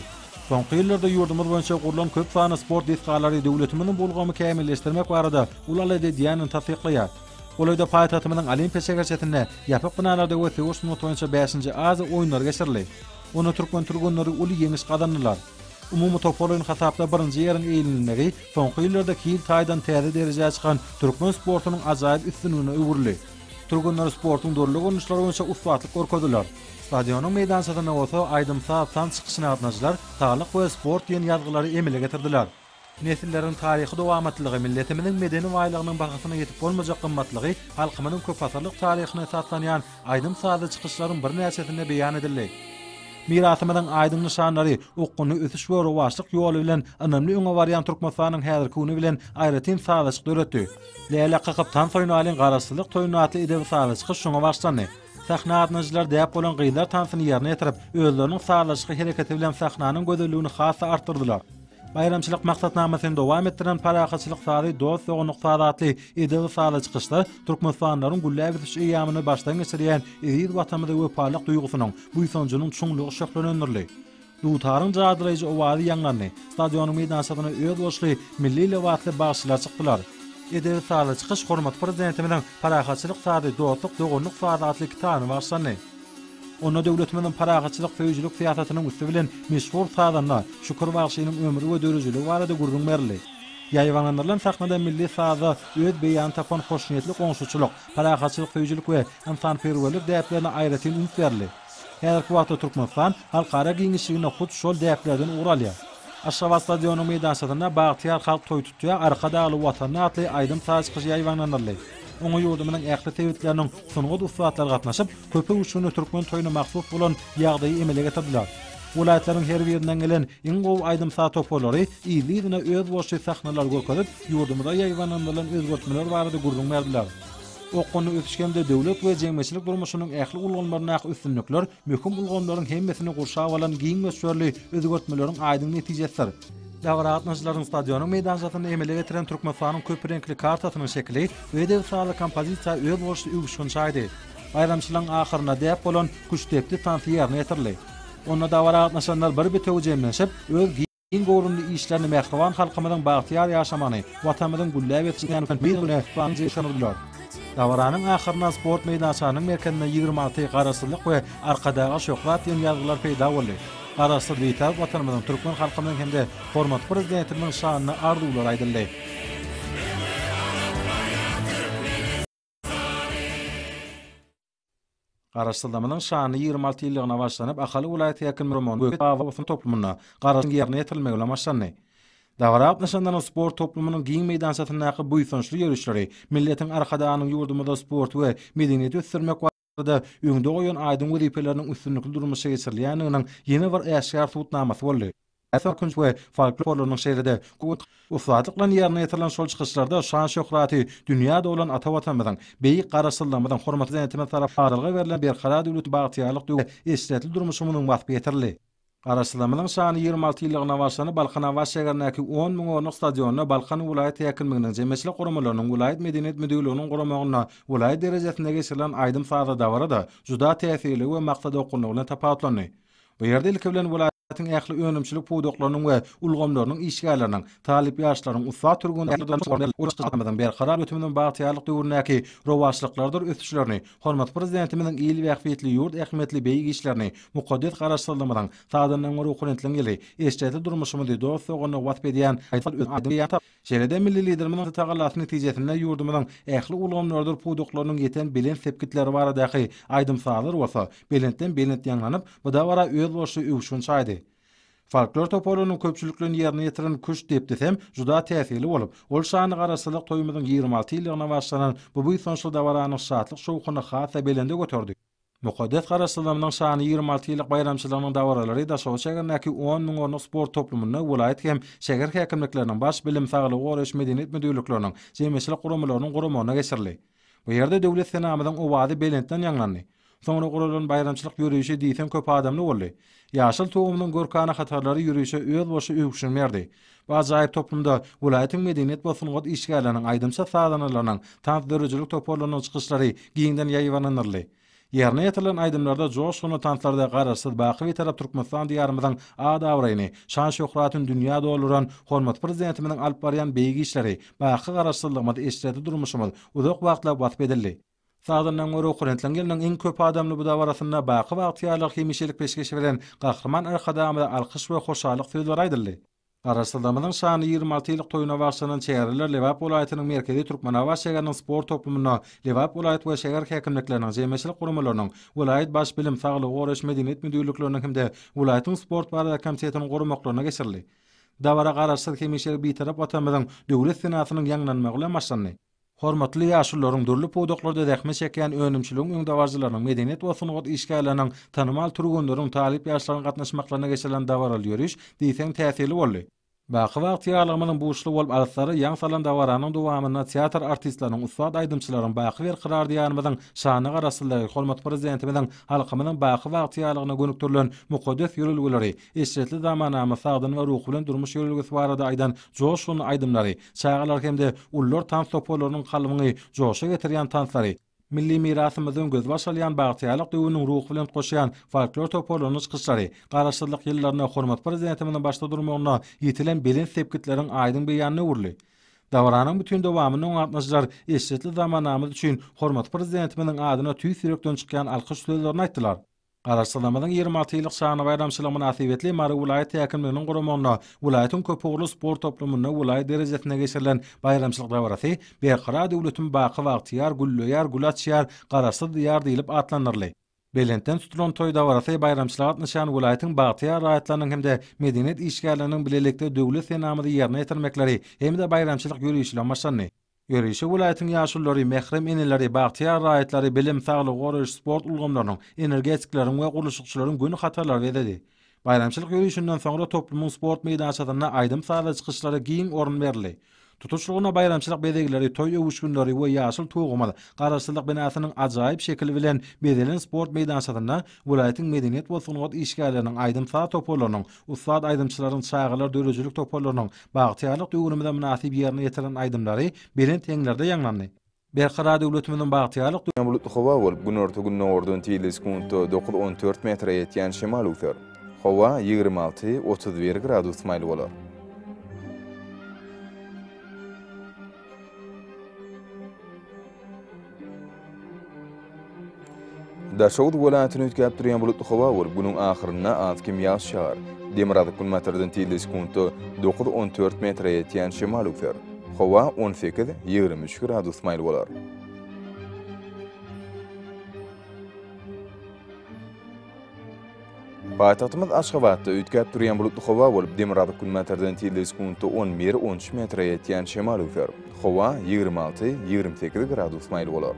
Soňky ýyllarda ýurdumyz boýunça gurlan köp sanly sport desgalary döwletimiziň bu ulgamy kämilleşdirmek barada Ol alyjy Dianany tassyklaýar. Golaýda paýtagtymyzyň Olimpiýa şäherçesinde ýapyk binalarda we söweş sungaty boýunça bäşinji Aziýa oýunlary geçirildi. Onda türkmen türgenleri uly ýeňiş gazandylar. Umumy toparlaýyn hasapda birinji ýeriň eýlenilmegi soňky ýyllarda hil taýdan täze derejä çykan türkmen sportunyň ajaýyp üstünligine öwrüldi. Türgenler sportuň dürli görnüşleri boýunça ussatlyk görkezdiler. Stadionyň meýdançasynda bolsa aýdym-saz, tans çykyşyna gatnaşyjylar Saglyk we sport diýen ýazgylary emele getirdiler. Nesilleriň taryhy dowamatlygy, milletimiziň medeni baýlygynyň bahasyna ýetip bolmajak gymmatlygy halkymyzyň köpasyrlyk taryhyna esaslanýan aýdym-sazly çykyşlaryň birnäçesinde beýan edildi. Mirasymyzyň aýdyň nyşanlary, okgunly ösüş we rowaçlyk ýoly bilen ynamly öňe barýan Türkmenistanyň häzirki güni bilen aýratyn sazlaşyk döretdi. Läle kakyp tans oýnaýlyň Garaşsyzlyk toýunda atly edebi-sazly çykyş şoňa başlandy. Sahna adynajylar däp bolan gyzlar tansyny ýerine ýetirip, özleriniň sazlaşykly hereketi bilen sahnanyň gözelligini has-da artdyrdylar. Baýramçylyk maksatnamasyny dowam etdiren Parahatçylyk sazy, Dost-doganlyk sazy atly edebi-sazly çykyşda türkmenistanlylaryň gülläp ösüş eýýamyny başdan geçirýän eziz Watanymyza wepalylyk duýgusynyň, buýsanjynyň çuňlugy şöhlelendirildi. Dutaryň jadylaýjy owazy ýaňlandy. Stadionyň meýdançasyna özboluşly milli lebasly bagşylar çykdylar. Edebi-sazly çykyş hormatly Prezidentimiziň Parahatçylyk sazy, Dostluk, doganlyk sazy atly kitabyna bagyşlandy. Onda döwletimiziň parahatçylyk söýüjilik syýasatynyň üsti bilen meşhur sazanda Şükür bagşynyň ömri we dörejiligi barada gürrüň berildi. Ýaýbaňlandyrylan sahnada milli sazda öz beýanyny tapan hoşniýetli goňşuçylyk, parahatçylyk söýüjilik we ynsanperwerlik däplerine aýratyn üns berildi. Häzirki wagtda Türkmenistan halkara giňişliginde hut şol däplerden ugur alýar. Aşgabat stadionynyň meýdançasynda Bagtyýar halk toý tutýar, Arkadagly Watanda atly aýdym-saz çykyşy ýaýbaňlandyryldy. Oňa ýurdumyzyň ähli sebitlerinden sungat ussatlary gatnaşyp, köpöwüşginli türkmen toýuna mahsus bolan ýagdaýy emele getirdiler. Welaýatlaryň her birinden gelen iň gowy aýdym-saz toparlary yzly-yzyna özboluşly sahnalary görkezip, ýurdumyza ýaýbaňlandyrylan özgertmeler barada gürrüň berdiler. Okgunly ösüş hem-de döwlet we jemgyýetçilik durmuşynyň ähli ulgamlaryndaky üstünlikler möhüm ulgamlaryň hemmesini gurşap alan giň möçberli özgertmeleriň aýdyň netijesidir. Dabara gatnaşyjylaryň stadionyň meýdançasynda emele getiren Türkmenistanyň köp reňkli kartasynyň şekili we debsarly kompozisiýa özboluşly öwüşgin çaýdy. Baýramçylygyň ahyrynda däp bolan küştdepdi tansy ýerine ýetirildi. Onda dabara gatnaşanlar bir bitewi jemlenşip, öz giň göwrümli işlerini mähriban halkymyzyň bagtyýar ýaşamagyny, Watanymyzyň gülläp ýetişýän ösen pudagine bagyş goşdular. Dabaranyň ahyrynda sport meýdançanyň merkezinde ýigrimi alty Garaşsyzlyk we Arkadaga şöhrat diýen ýazgylar peýda boldy. Garaşsyz Bitarap Watanymyzyň, türkmen halkymyzyň hem-de hormatly Prezidentimiziň şanyna arzuwlar aýdyldy. Garaşsyzlygymyzyň şanly ýigrimi alty ýyllygyna bagyşlanyp Ahal welaýat häkimligimiň we Aba Hoseýn toplumynda garaşsyz ýerine ýetirilmegi bilen başlandy. Dabara gatnaşanlaryň sport toplumynyň giň meýdançasyndaky buýsançly ýörişleri milletiň Arkadagynyň ýurdumyzda sporty we medeniýeti ösdürmek ýyllarda öňde goýan aýdyň wezipeleriniň üstünlikli durmuşa geçirilýändiginiň ýene bir äşgär subutnamasy boldy. Täsin künji we folklorlarynyň şeýle-de köp ussatlyk bilen ýerine ýetirilen şol çykyşlarda şan-şöhraty dünýä dolan ata Watanymyzyň, beýik Garaşsyzlygymyzyň, hormatly Prezidentimiz tarapyndan Aralga berlen Berkarar döwleti, bagtyýarlyk döwri, eşretli durmuşymyzyň waspy ýetirildi. Garaşsyzlygymyzyň şanly ýigrimi alty ýyllygyna bagyşlanyp Balkanabat şägerindäki on müň orunlyk stadionda Balkan welaýat häkimliginiň, jemgyýetçilik guramalarynyň, welaýat medeniýet müdirliginiň guramagynda welaýat derejesinde geçirilen aýdym-sazly dabara-da juda täsirli we maksadawgunlylygy bilen tapawutlandy. Bu ýerde ilki bilen welaýatyň ähli önümçilik pudaklarynyň we ulgamlarynyň işgärleriniň, talyp ýaşlaryň, ussat türgenleriň, Ýurdumyzyň berkarar ösüminiň bagtyýarlyk döwründäki rowaçlyklarydyr ösüşlerini, Hormatly Prezidentimiziň il bähbitli, ýurt ähmiýetli beýik işlerini, mukaddes Garaşsyzlygymyzyň, sazandaňňy ruhubelentligiň ýyly, eşretli durmuşymyzy dost-doganlygy wasp edýän Şeýle-de milli Liderimiziň tagallasy netijesinde ýurdumyzyň ähli ulgamlarydyr pudaklarynyň ýeten belent sepgitleri baradaky aýdym-sazlar bolsa belentden-belent ýaňlanyp, bu dabara özboluşly öwüşgin çaýdy. Folklor toparynyň köpçülikleýin ýerine ýetiren Küşt depdisem juda täsirli bolup, ol şanly Garaşsyzlyk toýumyzyň ýigrimi alty ýyllygyna bagyşlanan bu buýsançly dabaranyň şatlyk-şowhunyny has-da belende göterdi. Mukaddes Garaşsyzlygymyzyň şanly ýigrimi alty ýyllyk baýramçylygynyň dabaralary Daşoguz şägerindäki on müň orunlyk sport toplumynda welaýat hem şäher häkimlikleriniň, baş bilim, saglygy goraýyş, medeniýet müdirlikleriniň, jemgyýetçilik guramalarynyň guramagyna geçirildi. Bu ýerde Döwlet senamyzyň owazy belentden ýaňlandy. Soňra guralan baýramçylyk ýörişi diýseň köp adamly boldy. Ýaşyl tugumynyň görkana hatarlary ýörişe öz bolşy öwüşgin berdi. Bu ajaýyp toplumda welaýatyň medeniýet we sungat işgärleriniň, aýdymçy-sazandalarynyň, tans döredijilik toparlarynyň çykyşlary giňden ýaýbaňlandyryldy. Ýerine ýetirilen aýdymlarda, joşgunly tanslarda Garaşsyz, baky Bitarap Türkmenistan Diýarymyzyň at-abraýyny, şan-şöhratyny dünýä dolduran hormatly Prezidentimiziň alyp barýan beýik işleri, baky Garaşsyzlygymyz, eşretli durmuşymyz uzak wagtlap wasp edildi. Sazyndan görä okurentliň ýylynyň iň köp adamly bu dabarasynda baky Bagtyýarlygy hemişelik peşgeş beren Gahryman Arkadagymyza alkyş we hoşallyk sözleri aýdyldy. Garaşsyzlygymyzyň şanly ýigrimi alty ýyllyk toýuna bagyşlanan çäreler Lebap welaýatynyň merkezi Türkmenabat şäheriniň sport toplumynda Lebap welaýat we şäher häkimlikleriniň, jemgyýetçilik guramalarynyň, welaýat Baş bilim, saglygy goraýyş, medeniýet müdirlikleriniň hem-de welaýatyň sport barada komitetiniň guramaklarynda geçirildi. Dabara Garaşsyz, hemişelik Bitarap Watanymyzyň döwlet senasynyň ýaňlanmagy bilen başlandy. Hormatly ýaşulularyň dürli pudaklarda zähmet çekýän önümçiligiň öňdebaryjylarynyň, medeniýet we sungat işgärleriniň, tanymal türgenleriň, talyp ýaşlaryň gatnaşmaklaryna geçirilen dabaraly ýöriş diýseň täsirli boldy. Baky bagtyýarlygymyzyň buşly bolup alyslara ýaň salan dabaranyň dowamynda teatr artistleriniň, ussat aýdymçylaryň baky berkarar Diýarymyzyň şanyna garaşyldygy, hormatly Prezidentimiziň halkymyzyň baky bagtyýarlygyna gönükdirilen mukaddes ýörelgeleri, eşretli zamanamyz sagdyn we ruhy bilen durmuş ýörelgesi barada aýdan joşgunly aýdymlary, çagalar hem-de ulular tans toparlarynyň kalbyňy joşa getirýän tanslary, milli mirasymyzdan gözbaş alýan bagtyýarlyk döwrüniň ruhy bilen utgaşýan folklor toparlarynyň çykyşlary Garaşsyzlyk ýyllarynda hormatly Prezidentimiziň başda durmagynda ýetilen belent sepgitleriň aýdyň beýanyna öwrüldi. Dabaranyň bütin dowamynda gatnaşyjylar eşretli zamanamyz üçin hormatly Prezidentimiziň adyna tüýs ýürekden çykýan alkyş sözlerini aýtdylar. Garaşsyzlygymyzyň ýigrimi alty ýyllyk şanly baýramçylygy mynasybetli Mary welaýat häkimliginiň guramagynda welaýatyň köpugurly sport toplumynda welaýat derejesinde geçirilen baýramçylyk dabarasy Berkarar döwletim baky bagtyýar, gülleýär, gül açýar, Garaşsyz Diýar diýlip atlandyryldy. Belentden tutulan toý dabarasy baýramçylyga gatnaşýan welaýatyň bagtyýar raýatlarynyň hem-de medeniýet işgärleriniň bilelikde döwlet senamyzy ýerine ýetirmekleri hem-de baýramçylyk ýörişi bilen başlandy. Ýörişe welaýatyň ýaşululary, mährem eneleri, bagtyýar raýatlary, bilim, saglygy goraýyş, sport ulgamlarynyň, energetikleriň we gurluşykçylaryň göni hatarlary bezedi. Baýramçylyk ýörişinden soňra toplumyň sport meýdançasynda aýdym-sazly çykyşlara giň orun berildi. Tutuşlygyna baýramçylyk bezegleri, toý öwüşginleri we Ýaşyl tugumyz, Garaşsyzlyk binasynyň ajaýyp şekili bilen bezelen sport meýdançasynda welaýatyň medeniýet we sungat işgärleriniň, aýdym-saz toparlarynyň, Ussat aýdymçylaryň çagalar döredijilik toparlarynyň Bagtyýarlyk döwrümize mynasyp ýerine ýetiren aýdymlary belent heňlerde ýaňlandy. Berkarar döwletimiziň bagtyýarlyk. Ýöne bulutly howa bolup, günorta-gündogardan tizligi sekuntda dokuz-on dört metre ýetýän şemal öwser. Howa ýigrimi alty, otuz bir gradus maýyl bolar. Daşoguz welaýatyny üýtgäp durýan bulutly howa bolup, günüň ahyrynda az-kem ýagyş ýagar. Demirgazyk günbatardan tizligi sekuntda dokuz-on dört metre ýetýän şemal üser. Howa on sekiz, ýigrimi üç gradus maýyl bolar. Paýtagtymyz Aşgabatda üýtgäp durýan bulutly howa bolup, demirgazyk günbatardan tizligi sekuntda on bir, on üç metre ýetýän şemal öser. Howa ýigrimi alty, ýigrimi sekiz gradus maýyl bolar.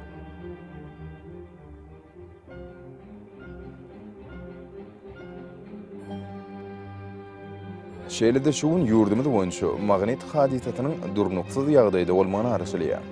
Şeýle-de şu gün ýurdumyz boýunça magnit hadysasynyň durnuksyz ýagdaýda bolmagyna garaşylýar.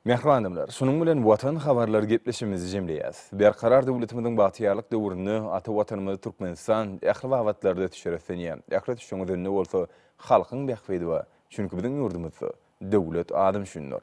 Mähriban adamlar, şunuň bilen Watan habarlary gepleşigimizi jemleýäs. Berkarar döwletimiziň bagtyýarlyk döwründe ata Watanymyz Türkmenistan ähli babatlarda ösüşe röslenýär. Ähli ösüşiň özünde bolsa halkyň bähbidi bar. Çünki biziň ýurdumyzda döwlet adam üçindir.